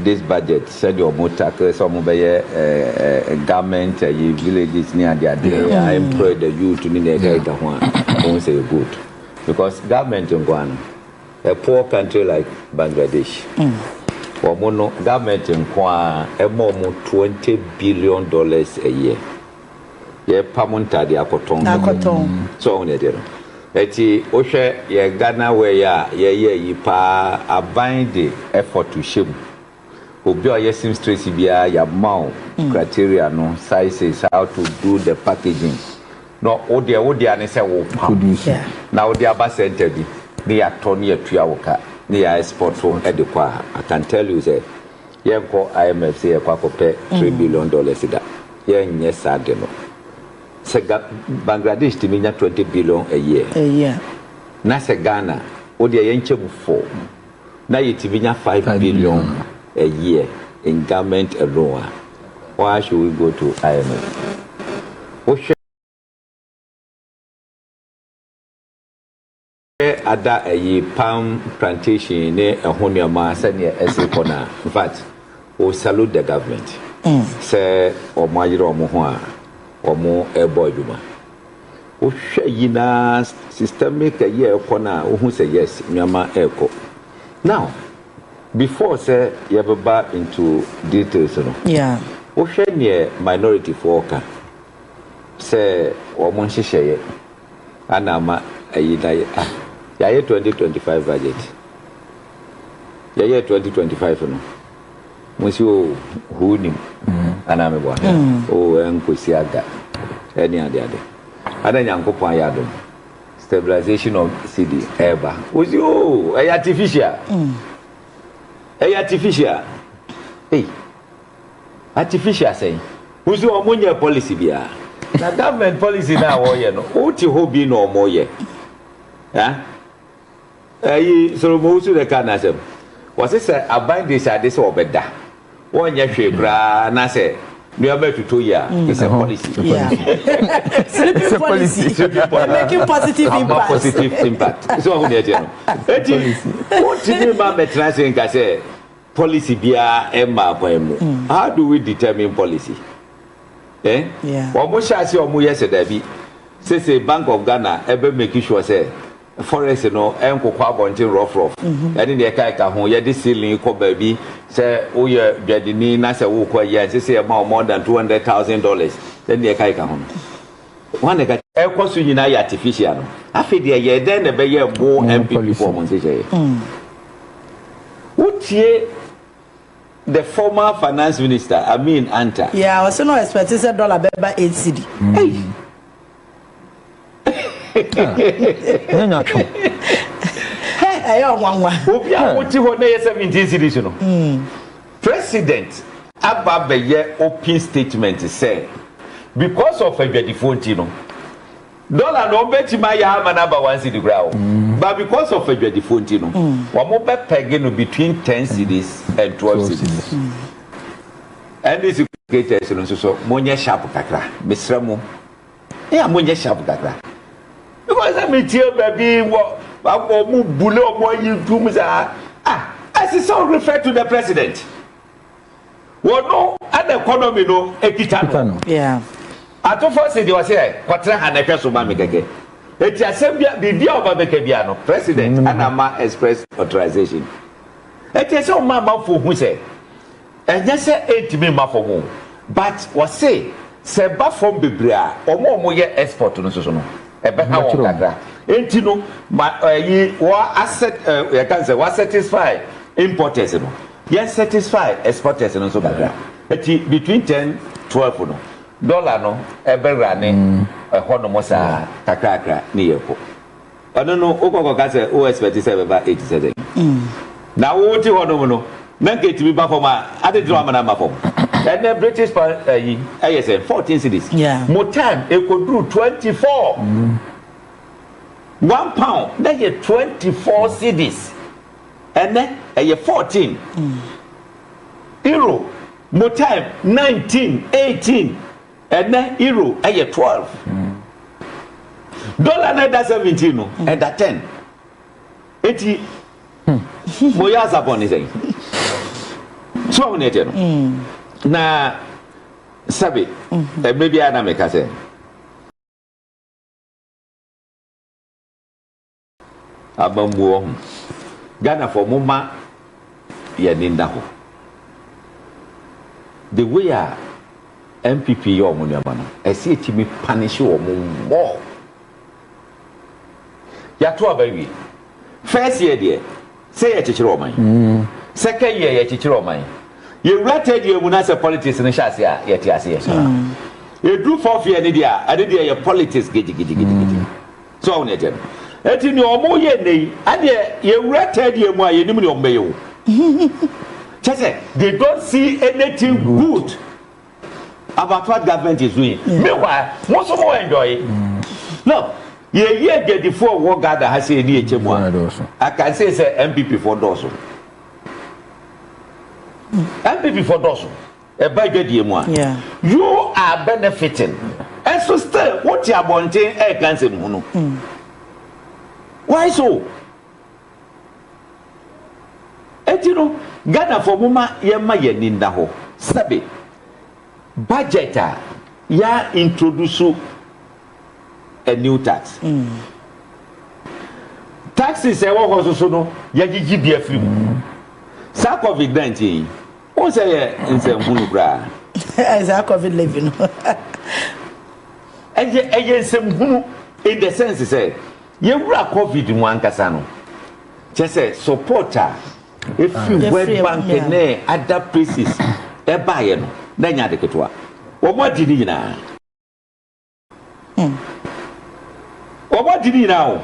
Speaker 3: this budget sɛdeɛ ɔmo tackle sɛ ɔmo bɛyɛ government ayi villages ne adeɛ adeɛ a employ the youth ne nea ɛka ɛka ho a wohu sɛ ɛyɛ good because government nko ara no a poor country like Bangladesh ɔmo no government nko ara ɛma ɔmo twenty billion dollars a year. yɛpa mo ntade akɔtɔn no akɔtɔn sɛ ɔho ne ɛdeɛ no ɛti wohwɛ yɛ Ghana wɛ yɛ a yɛyɛ yi paa aban de effort hyɛ mu obi a ɔyɛ seamstress biara yɛama wo mm. criteria no sizes how to do the packaging na wodeɛ wodeɛ ne sɛ wo pa na wode aba center bi ne yɛatɔ ne yɛtua wo ka ne yɛ export so de kɔ a I can tell you sɛ Yɛnkɔ IMF sɛ yɛkɔ akɔpɛ three billion dollars da. Yɛnyɛ saa de no. Sɛ Ga Bangladesh tumi nya twenty billion a year, A year. na sɛ Ghana, wo deɛ yɛnkyɛ mu four, na yɛtumi nya five Five billion billion. a year in garment alone a, why should we go to IMF? Wohwɛ. Hwɛ ada ɛyi palm plantation ne ɛho nnoɔma sɛdeɛ ɛsi rekɔ no a in fact wo salute the government sɛ wɔn ayere wɔn ho a wɔn ɛrebɔ adwuma wohwɛ yi na systemic ɛyi a ɛrekɔ no a wohu sɛ yes nnoɔma ɛrekɔ now before sɛ yɛbɛba into details no
Speaker 4: wohwɛ neɛ
Speaker 3: minority foɔ ka sɛ wɔn nhyehyɛeɛ ana ama ayi na yɛ ah yɛayɛ twenty twenty five budget yɛyɛ twenty twenty five no mo si o huu nim ana mi bɔ o ɛnkosi ada ɛne ade ade ana nyankopɔn ayɛ adom stabilization of cd ɛɛba o si o ɛyɛ artificial ɛyɛ artificial ei. Artificial sɛn? Wo nso wɔn nyɛɛ policy biara. Na government policy no a wɔyɛ no wo te hɔ bi na wɔn yɛ. Ɛ? Ɛyi Solomon Wusu na ɛka n'asɛm. Wɔse sɛ aban de sɛ ade sɛ wɔbɛda. Wɔn nyɛ hwee koraa na sɛ nneɛma ɛtotɔ yi a it's a policy.
Speaker 4: Yeah. Sleeping policy. Sleeping policy. Making positive impact. Ama positive impact.
Speaker 3: So wɔn nyɛ tiɛ no. Eti, wɔn ti mi ma mɛtena se nka sɛ Policy biara mmaa kwan mu. How do we determine policy? Eh?
Speaker 4: Wɔn hyɛ aseɛ
Speaker 3: wɔn yɛ sɛ dabi. Sese Bank of Ghana ɛbɛ make sure sɛ forest no ɛnkokɔ abɔnten rough rough ɛne deɛ ɛka ɛka ho. Yɛde ceiling kɔ baabi. Sɛ woyɛ dwadini na sɛ wokɔ ayi a ɛnsɛ sɛ yɛma wo more than two hundred thousand dollars ɛne deɛ ɛka ɛka ho no. Wɔn na ɛka. Ɛkɔ so nyinaa yɛ artificial no. Afei deɛ yɛ dɛn na ɛbɛyɛ mo NPP foɔ mo nhyehyɛeɛ? Wotie the former finance minister Amin Anta. Yeah, ɔsɛ na ɔexpect
Speaker 4: sɛ dollar bɛba eight cedi. Ei. Nyɛ nyatwo. Hɛ,
Speaker 3: ɛyɛ ɔnwanwa. Obi a wote hɔ na ɛyɛ seventeen cedis no. President aba abɛyɛ open statement sɛ because of adwadifoɔ nti no dollar no ɔbɛtumi ayɛ ama no aba one cedi koraa o but because of adwadifoɔ nti no wɔn bɛ peg no between ten cedis and twelve cedis NDC creators no nso so monyɛ sharp kakra mesrɛ mo. Eya monyɛ sharp kakra. Because sɛ metie baabi wɔ wabɔ ɔmo bule ɔmo ayi ntum saa. Ah, ɛsɛ sɛ o refer to the president. Wɔn no ɛna economy no ekita no. Yeah.
Speaker 4: Atofo si
Speaker 3: deɛ ɔsɛ kɔtena ha na ɛhwɛ so ma me kɛkɛ. Eti asɛm bia biribi a ɔba bɛka bia no president ɛna ama express authorization. Eti ɛsɛ ɔma amanfo hu sɛ Ɛnyɛ sɛ ɛntumi mma fam o but wɔse sɛ ɛba fam bebree a wɔn a wɔyɛ export no nso no ɛbɛha wɔn kakra nti no ma ɛyi wɔ asɛt yɛka sɛ wɔ satisfy importers no yɛn satisfy exporters no nso kakra nti between ten twelve no dollar no ɛbɛwura ne ɛhɔ nom saa kakrakra ne yɛkɔ. ɔno no wokɔ kɔka sɛ wo expect sɛ ɛbɛba ɛti sɛ sɛn na wo te hɔ nom no na nka ɛtumi ba fam a ade tena amana ma fam ɛnɛ British pa ayi ɛyɛ sɛ 14 cities mo time ɛkɔduru 24 one pound na yɛ 24 cities ɛnɛ ɛyɛ 14 euro mo time 19 18 Ɛnnɛ Euro yɛ twelve. Dollar na ɛda seventeen no ɛda ten. Eti mo yɛ asabɔn ne sɛn? So ɔmo na ɛkyɛ no. Na sɛbi ɛmɛ biara na mɛka sɛ. Abambuo ho. Ghanafoɔ momma yɛn ani nna hɔ. The way a NPP yɛ wɔn nneɛma no, ɛsɛ yɛtumi panish wɔn more. Yɛato aba awie. First year deɛ, sɛ yɛkyekyere ɔman. Second year yɛkyekyere ɔman. Yɛwura third year mu na sɛ politics no hyɛ aseɛ a, yɛte aseɛ. Ɛduru fourth year no deɛ a, ɛno deɛ ɛyɛ politics gidigidigidi. So wo ne agya no? Enti nea wɔyɛ nnɛ yi, ɛnneɛ yɛwura tɛɛdeɛ mu a, yɛnnim nea wɔbɛyɛ o. Kyerɛ sɛ, they don't see anything good about what government is doing. Meanwhile, mo nso mo enjoy. Now, yɛyi adwadifo a wɔwɔ Ghana ha sɛ yɛne yɛkyɛ mu a, I can say sɛ MPP foɔ dɔɔso. MPP foɔ dɔɔso. Ɛba adwadie mu a, you are benefiting nso still wo te abɔnten reka nsɛm hunu. Why so? Eti no, Ghanafoɔ mo ma yɛn ma yɛn ani nna hɔ. Sɛbe, budget a, yɛ a introduce a new tax. Taxes a ɛwɔ hɔ nso so no, yɛagyegye bi afiri mu. Saa Covid 19 yi. Wohu sɛ yɛ nsɛnhunu koraa. Saa covid
Speaker 4: levy no.
Speaker 3: Ɛyɛ ɛyɛ nsɛnhunu in the sense sɛ yɛwura covid mu ankasa no kyɛ sɛ support a efi World Bank ne other places ɛbaeɛ no na ɛnyɛ ade ketewa. Wɔn adi ne nyinaa. Wɔbɔ gyidi nyinaa o.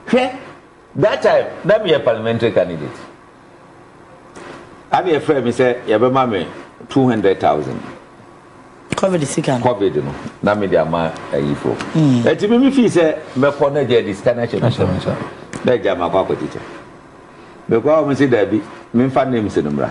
Speaker 3: Hwɛ that time na meyɛ parliamentary candidate ana yɛfrɛ me sɛ yɛbɛma me two hundred thousand.
Speaker 4: Covid sika no. Covid no na me
Speaker 3: de ama ayifo. Ɛti mi mi fi sɛ mɛkɔ na gya de sika no ahyɛ mi sɛ na gya ma kɔ akɔkyekyɛ. Mekɔ a wɔn si daabi memfa names no mmra.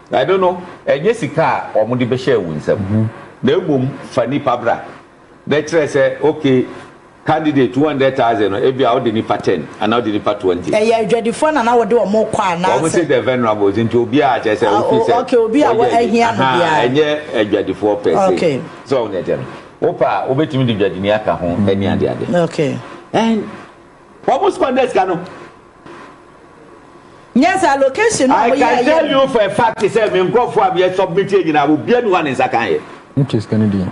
Speaker 3: Ɛno no, ɛnyɛ sika a wɔde bɛhyɛɛ wo nsam, na mmom fa nipa bra. Na ɛkyerɛ sɛ, ok, candidate two hundred thousand no, ebia wode nipa ten anaa wode nipa twenty. Ɛyɛ adwadifoɔ na na
Speaker 4: wode wɔn rekɔ anaa sɛ? Wɔn se the venerables,
Speaker 3: nti obiara kyerɛ sɛ wofi sɛ. Ok, obi a wɔahia no
Speaker 4: biara. Ahaa, ɛnyɛ adwadifoɔ
Speaker 3: pɛ se. Ok. So woahu deɛ ɛteɛ
Speaker 4: no?
Speaker 3: Wopɛ a, wobɛtumi de dwadini aka ho ne adeade. Ok.
Speaker 4: And
Speaker 3: wɔn spɔnda sika no.
Speaker 4: I can tell you
Speaker 3: for a fact sɛ me nkurɔfoɔ a meyɛ submit yɛ nyinaa obiara ni hɔ a ne nsa kan yɛ. Wotwa sika no din.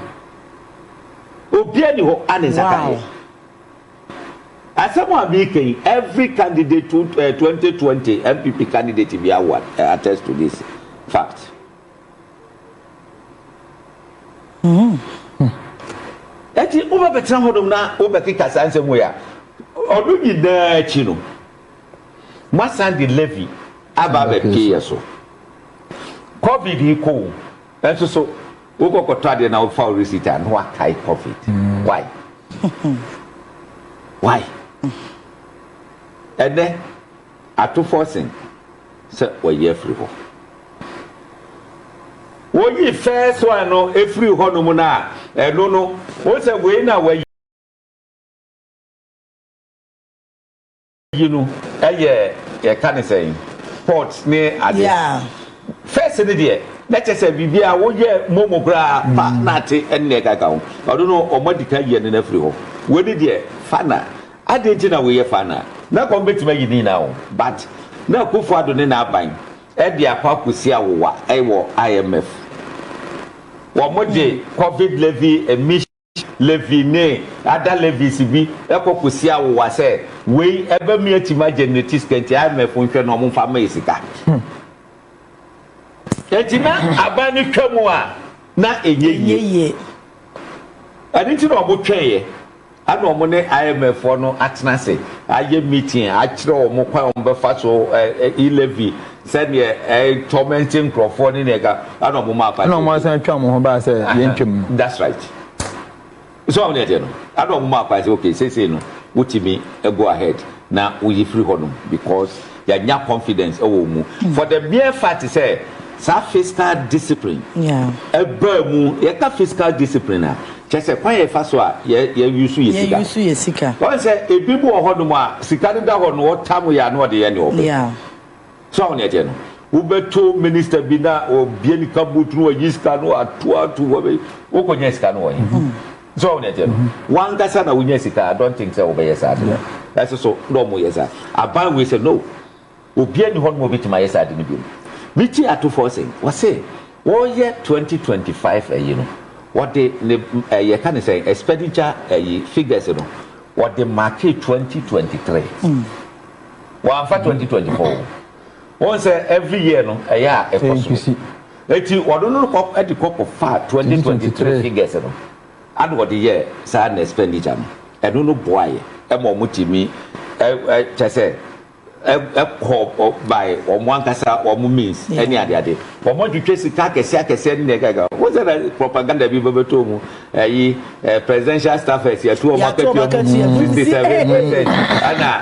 Speaker 3: Obiara ni hɔ a ne nsa kan yɛ. Asɛm a meka yi every candidate to uh, eh, 2020 MPP candidate bi awa eh, attest to this fact. Enti wobɛbɛtena hɔnom na wobɛkeka saa nsɛm wei a? Ɔno nyinaa akyi no, moasan de Levi aba abɛpie yɛn so. Covid yi kɔ o, nanso so wokɔ kɔtɔ adeɛ na wofa wo receipt a na woakae Covid? Why? Why? Ɛnnɛ, Ato fɔ sen sɛ wɔyi afiri hɔ. Woyi first one no firi hɔ nom no a, ɛno no, wohu sɛ wei na wɔayi no yɛ yɛka ne sɛn pot ne ade. Yeah. First no deɛ, na
Speaker 5: kyɛ sɛ biribi a woyɛ momo koraa pa na ate ɛne ɛkaka ho. Ɔno no, wɔn adi kan yɛ no na afiri hɔ. Wei no deɛ, fa na. Adɛn nti na woyɛ faa no a, na anka wɔbɛtumi ayi ne nyinaa o, but na Akuffo Addo ne n'aban de akɔ akɔsi awowa wɔ IMF. Wɔde Covid levy, emission levy ne other levies bi kɔ kɔsi awowa sɛ wei ɛbɛmi atumi agenerate sika nti IMF nhwɛ na wɔmfa mma yɛ sika. Enti na aban no twa mu a na ɛnyɛ yie. Ɛno nti na wɔtwɛeɛ. Ɛna wɔn ne IMF foɔ no atena ase ayɛ meeting akyerɛ wɔn kwan wɔn bɛfa so e levy sɛdeɛ ɛtɔmɛnte nkorɔfoɔ ne nea ɛka ɛna wɔn maa party. Ɛna wɔn asan twa wɔn ho
Speaker 6: baa sɛ yɛn twam no. That's right.
Speaker 5: So wɔn deɛ deɛ no ɛna wɔn maa party okay seesei no wotumi go ahead na woyi firi hɔnom because Yɛanya confidence wɔ wo mu. For the mere fact sɛ saa fiscal discipline baa mu, yɛka fiscal discipline a, kyerɛ sɛ kwan a yɛfa so a yɛ use yɛ sika. Yɛ use yɛ sika. Wɔn sɛ ebi mu wɔ hɔ nom a, sika no da hɔ no, ɔtam yɛ a na ɔde yɛ nea ɔpɛ. So ahu nea ɛteɛ no? Wobɛto minister bi na wabue ne kaboot na wayi sika no ato ato hɔ, wokɔ nya sika no wɔ he? So wɔn aseɛ no wankasa na wonya sika I don't think sɛ wɔbɛyɛ saa ade no ɛso so na wɔn yɛ saa aban wei sɛ no obia ni hɔ nom obetumi ayɛ saa ade no biom me ti ato fɔ sɛ wɔse wɔyɛ 2025 ayi no wɔde ne ɛyɛ ka ne sɛ expenditure ayi figures no wɔde market 2023 wɔanfa 2024 Wɔn sɛ every year no ɛyɛ a ɛkɔ so eti ɔno no kɔ ɛde kɔ kɔ fa twenty twenty three figures no ana ɔde yɛ saa na expenditure no ɛno no boa yɛ ɛma wɔn ti mi ɛ ɛ kyɛ sɛ ɛ ɛkɔ ɔ by wɔn ankasa wɔn means ɛne ade ade wɔn atwitwa sika akɛse akɛse ɛne nea ɛkɛkɛ wɔn sɛ na propaganda bi bɛbɛtɔ wɔn ɛyi ɛ presidential staffers yɛtu wɔn akɛtua mu fifty seven percent ɛna.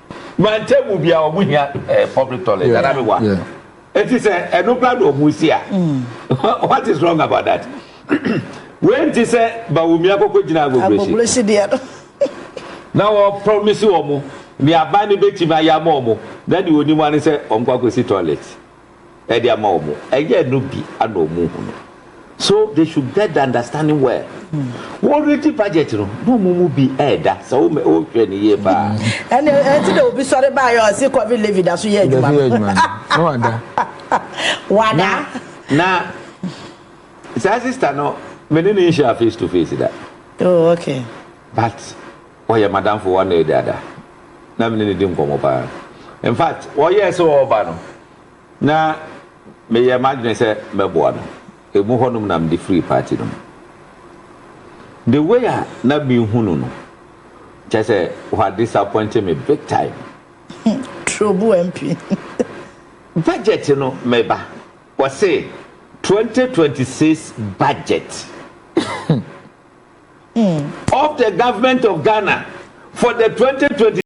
Speaker 5: Wɔn table bia wɔn hia eh, public toilet ana mi wa. Eti sɛ ɛno kura na wɔn si a, mm. what is wrong about that? Wei nti sɛ Bawumi akoko gyina agogosi. Agogosi deɛ no. Na wɔn promise wɔn ni aban ni betumi ayɛ ama wɔn na deɛ onim ani sɛ wɔn kɔ akosi toilet. ɛde ama wɔn ɛyɛ no bi ana wɔn hu no so they should get the understanding well wɔn redi budget no na wɔn mu bi ɛɛda sɛ wɔn wɔhwɛ ne yie paa. ɛnna ɛti na obi sɔre baa yɛ ɔsi covid levy da so yɛ adwuma no wada wada na saa sista no mene ne nhyia face to face da oh okay but Ɔyɛ m'adamfo wɔ Anna Ediada. Na me ne no di nkɔmmɔ paa. In fact, ɔyɛɛ sɛ ɔreba no, na meyɛɛ m'adwene sɛ mɛboa no. Emu hɔnom na mede firii party no mu. The way a na mehu no no, kyerɛ sɛ ɔha disappointe me big time. Turobu MP. Budget no, me ba, wɔse 2026 budget. of the Government of Ghana for the twenty twenty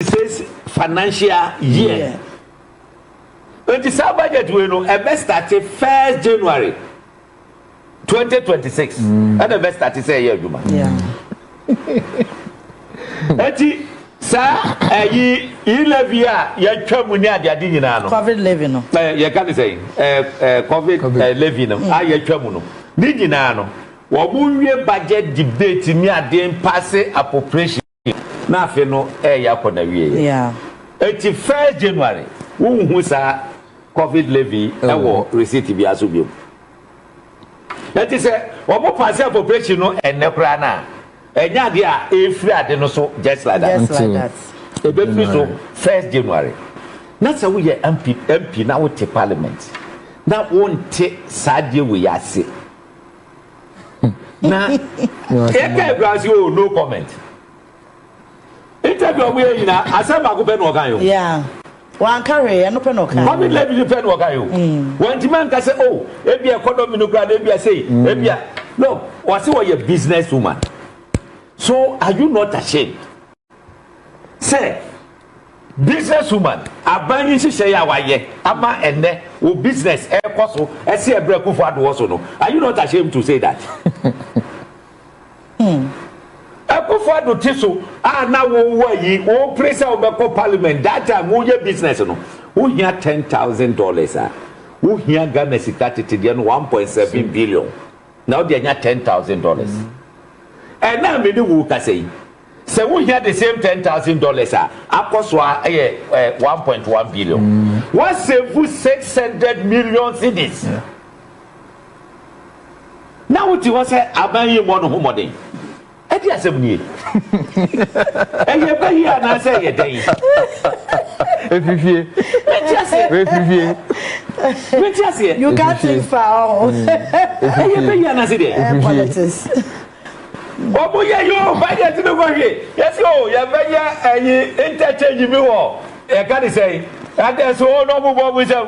Speaker 5: six financial year. Nti saa budget wei no ɛbɛ start first January twenty twenty six ɛna ɛbɛ start sɛ ɛyɛ adwuma. Eti saa ɛyi yi levy a yɛtwa mu ne adeade nyinaa no. Covid levy no. Ɛɛ eh, yɛka ne sɛ ɛɛ eh, ɛɛ eh, covid ɛɛ levy no mm. a yɛtwa mu no ne nyinaa no wɔn nwie budget debate ne adeɛ mpaase appropriation na afe no ɛɛyɛ akɔ na wie yɛ. Eti first January wohu saa covid levy ɛwɔ receipt bi aso bi mu. Enti sɛ wɔbɔ Pasean Population no ɛnnɛ koraa no a, ɛnyɛ adeɛ a ɛrefiri ade no so just like that. Ɛbɛfiri so first January. Na sɛ woyɛ MP MP na wote Parliament na wonte saa adeɛ wei ase na yɛka agorɔ ase oo, no comment. Interview a ɔmo yɛ nyinaa asɛm baako pɛ na ɔkae o. Yeah.
Speaker 4: Wanka hwee, ɛno pɛ na ɔkae. Covid levy no pɛ na ɔkae
Speaker 5: o. Wantumi anka sɛ oh, ebia economy no koraa no ebia sei, ebia. No, ɔse ɔyɛ business woman. So are you not ashamed sɛ business woman aban yi nhyehyɛe a wayɛ ama ɛnnɛ wo business ɛrekɔ so ɛse ɛbrɛ Akufo-Addo wɔ so no, are you not ashamed to say that? Hmm. Akufo Addo te so a na wowɔ ayi wopere sɛ wobɛkɔ parliament that time woyɛ business no wohia ten thousand dollars a wohia Ghana sika tete deɛ no one point seven billion na wode anya ten thousand dollars ɛna a mene wo kasa yi sɛ wohia the same ten thousand dollars a akɔ so a ɛyɛ eh, one point one billion mm. wasevu six hundred million cedis. Yeah. na wote hɔ sɛ aban yi mmɔ no ho mmɔden ɛde asɛm nie ɛyɛ ba yi anaasɛ ɛyɛ dɛn ɛfifie
Speaker 6: ɛfifie
Speaker 4: wɛnti aseɛ you can't think far ɔho
Speaker 5: ɛyɛ ba yi anaasɛ deɛ ɛfifie wɔn yɛ yi o budget no kɔ hwe yɛsi o yɛbɛyɛ ɛyi interchange bi wɔ yɛka ne sɛn adɛso o na ɔmo bɔ ɔmo nsɛm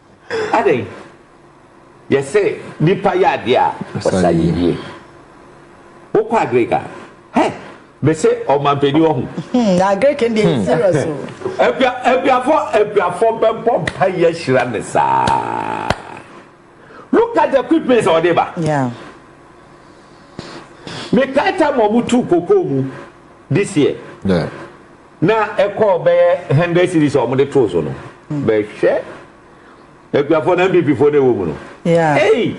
Speaker 5: Adɛn? Yɛse nipa yɛ adeɛ a, ɔsa yɛ yie. Wokɔ Agric a, hɛ! Mese ɔmanpanin wɔ ho. Hmm, na Agric no
Speaker 4: deɛ serious o. Abia, abiafɔ, abiafɔ
Speaker 5: bɛbɔ mpa yɛ hyira me saa. Look at the equipment a ɔde ba. Yeah. Me kae time a wɔn tu kokoo mu this year. Yeah.
Speaker 6: Na
Speaker 5: ɛkɔɔ bɛyɛ hundred cedis a wɔde too so no, bɛhwɛ akuafoɔ na NPP foɔ na ɛwɔ mu no. Ei!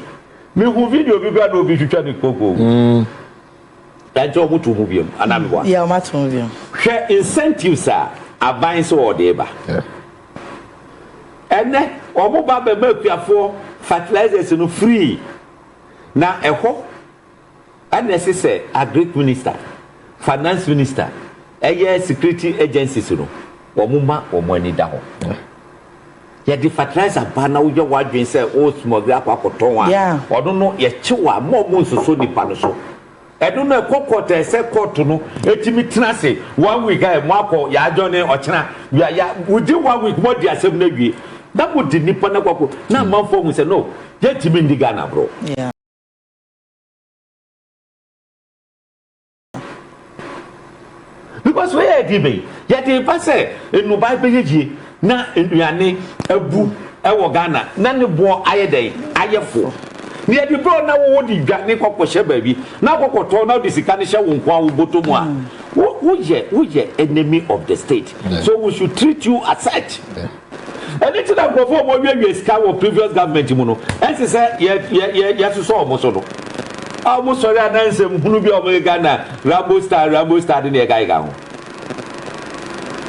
Speaker 5: Me hu video bi koraa na obi twitwa ne koko. Na nkyɛ wɔn too mu biom anaa me boa? Yeah, wɔn ato mu biom.
Speaker 4: Hwɛ incentives
Speaker 5: a aban sɛ wɔde reba. Ɛnɛ wɔn ba bɛma akuafoɔ fertilizers no free na ɛhɔ. Ɛna ɛse sɛ agric minister, finance minister, ɛyɛ security agencies no wɔn ma wɔn ani da hɔ. Yɛde fertilizer ba na woyɛ w'adwene sɛ wo smuggle akɔ akɔtɔn a, ɔno no yɛkye wo a mma wɔn nsoso nipa no so. Ɛno no ɛkɔ court a ɛsɛ court no ɛtumi tena ase one week a ɛmo akɔ yɛ adjourne ɔkyena ya within one week mo adi asɛm no awie na mo de nipa no akɔ akɔ na amanfoɔ ahu sɛ no yɛntumi nni Ghana agorɔ. because wei yɛ ɛdi bɛyi yɛde ba sɛ nnubaa bɛyɛ yie na nnuane abu ɛwɔ ghana na ne boɔ ayɛ dɛ ayɛ fo na yɛde bro na wo wode dwa ne kɔkɔhyɛ baabi na kɔkɔtɔ na wode sika no hyɛ wo nko a wo bɔtɔ mu a woyɛ woyɛ enemy of the state so we should treat you as such. Ɛno nti na nkurɔfoɔ a wɔwiawia sika wɔ previous government mu no ɛnse sɛ yɛ yɛ yɛ yɛsosɔ wɔn so no a wɔn sɔre anaa nsɛm hunu bi a wɔn yɛga na rambo star rambo star de na yɛga yɛga ho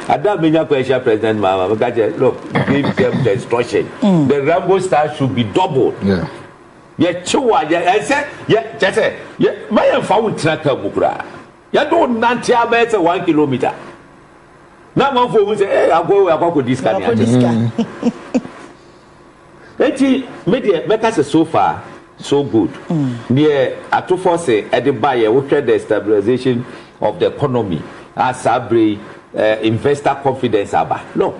Speaker 5: ada menya kɔ ahyia president maama meka kyɛ look give them the instruction mm. the rambo star should be doubled
Speaker 6: yeah. yɛkyew
Speaker 5: a yɛ ɛsɛ yɛ kyɛ sɛ yɛ ma yɛmfa wo ntena ka mu koraa Yɛtoo nante ara bɛyɛ sɛ one kilometre na amanfoɔ hu sɛ eh, agoa wei akɔ akɔdi sika ne akyɛ. Enti me deɛ mɛka sɛ so far so good. Deɛ ato force de baeɛ wohwɛ the stabilisation of the economy a saa berɛ yi eh, investor confidence aba. No.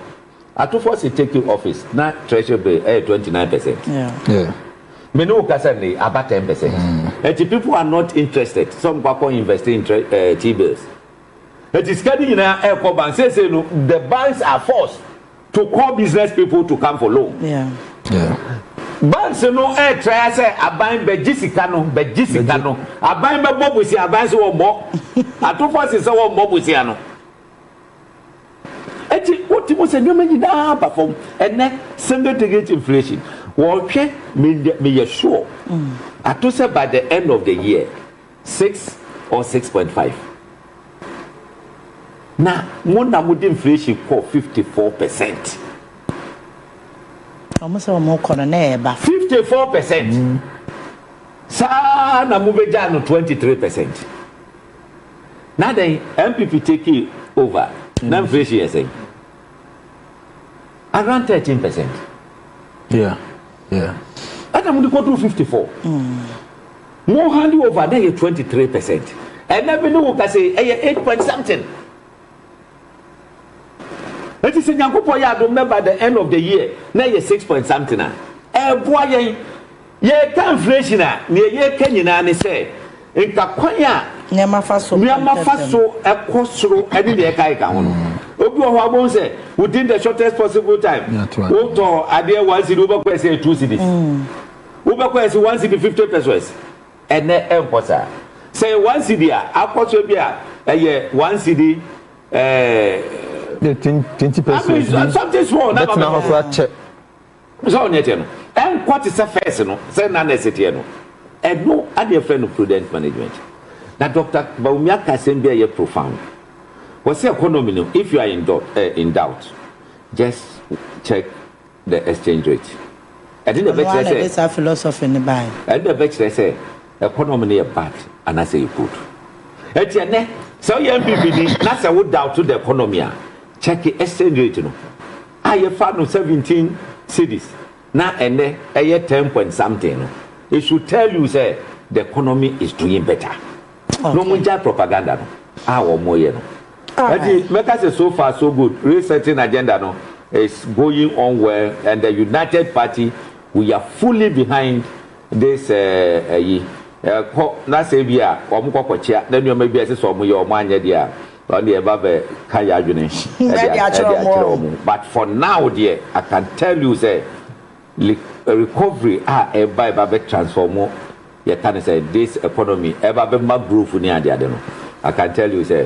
Speaker 5: Atufo se take you office na treasury bill ɛyɛ twenty nine percent.
Speaker 4: Me ne wo
Speaker 5: kasa nnɛ yi aba ten percent. Enti people are not interested sɛ wɔn kɔ akɔ invest in tre eh, T bills. Enti sika no nyinaa ɛkɔ bank. Seesei no the banks are forced to call business people to come for loan. Banks no ɛtraya sɛ aban bɛgye sika no, bɛgye sika no. Aban bɛbɔ bosia, aban se wɔmmɔ. Atufo se sɛ wɔmmɔ bosia no. Enti wotumi hu sɛ nneɛma nyinaa aba fam. Ɛnnɛ, single digit inflation, wɔhwɛ, meyɛ sure, mm. ato sɛ by the end of the year, six or six point five. Na mo na mo de inflation kɔ fifty
Speaker 4: four percent. Wɔn sɛ wɔn kɔ no na ɛreba. Fifty four
Speaker 5: percent. Mm. Saa na mo bɛ gya no twenty three percent. na dɛn NPP take over na inflation yɛ sɛn around thirteen percent
Speaker 6: yeah
Speaker 5: yeah ɛna mo de kɔduru fifty four mo hand over na yɛ twenty three percent ɛna bi ne wo kase ɛyɛ eight point something eti sɛ nyankopɔ yɛ adom na by the end of the year na yɛ six point something a ɛɛboa yɛn. Yɛreka inflation a, nea yɛreka nyinaa ne sɛ nka kwan a nneɛma fa so nneɛma fa so kɔ soro ne nea ɛkeka ho no. Obi wɔ hɔ a, wobɛhu sɛ within the shortest possible time, wotɔ adeɛ one cedi, wobɛkɔɛ sɛ two cedis. Wobɛkɔɛ sɛ one cedi fifty pesos. Ɛnɛ ɛnkɔ saa. Sɛ yɛ one cedi a, akɔ so bi a ɛyɛ one cedi ɛɛ.
Speaker 6: Twenty pesos bi. Something small. Bɛtena
Speaker 5: hɔ koraa kyɛ.
Speaker 6: So ɔnyɛ
Speaker 5: kyɛ no ɛnkɔ te sɛ first no sɛ na nurse teɛ no ɛno ɛna yɛfrɛ no prudent management na Doctor Bawumia ka asɛm bi a ɛyɛ profound wɔsi economy no if you are in doubt, eh, in doubt just check the exchange rate ɛde na ɛbɛkyerɛ sɛ ɛde saa philosophy no
Speaker 4: bae ɛde na ɛbɛkyerɛ sɛ
Speaker 5: economy no yɛ bad anaasɛ yɛ good ɛti ɛnɛ sɛ woyɛ MPP ni na sɛ wo doubt the economy a check exchange rate no a yɛfa no seventeen cedis na ɛnnɛ ɛyɛ ten point something no it should tell you sɛ the economy is doing better na wɔn gya propaganda no a wɔn yɛ no ɛti mɛka sɛ so far so good resetting agenda no is going on well and the united party we are fully behind. de sɛ ayi kɔ na sɛ bi a wɔn kɔ kɔkyea na nneɛma bi a ɛsɛ sɛ wɔn yɛ wɔn anyɛ deɛ a wɔn deɛ ɛba bɛ ka yɛ adwene ɛde akyerɛ wɔn but for now deɛ I can tell you sɛ recovery a ɛba ɛba bɛ transform yɛ ka ne sɛ this economy ɛba bɛ ma growth ne adeade no I can tell you sɛ.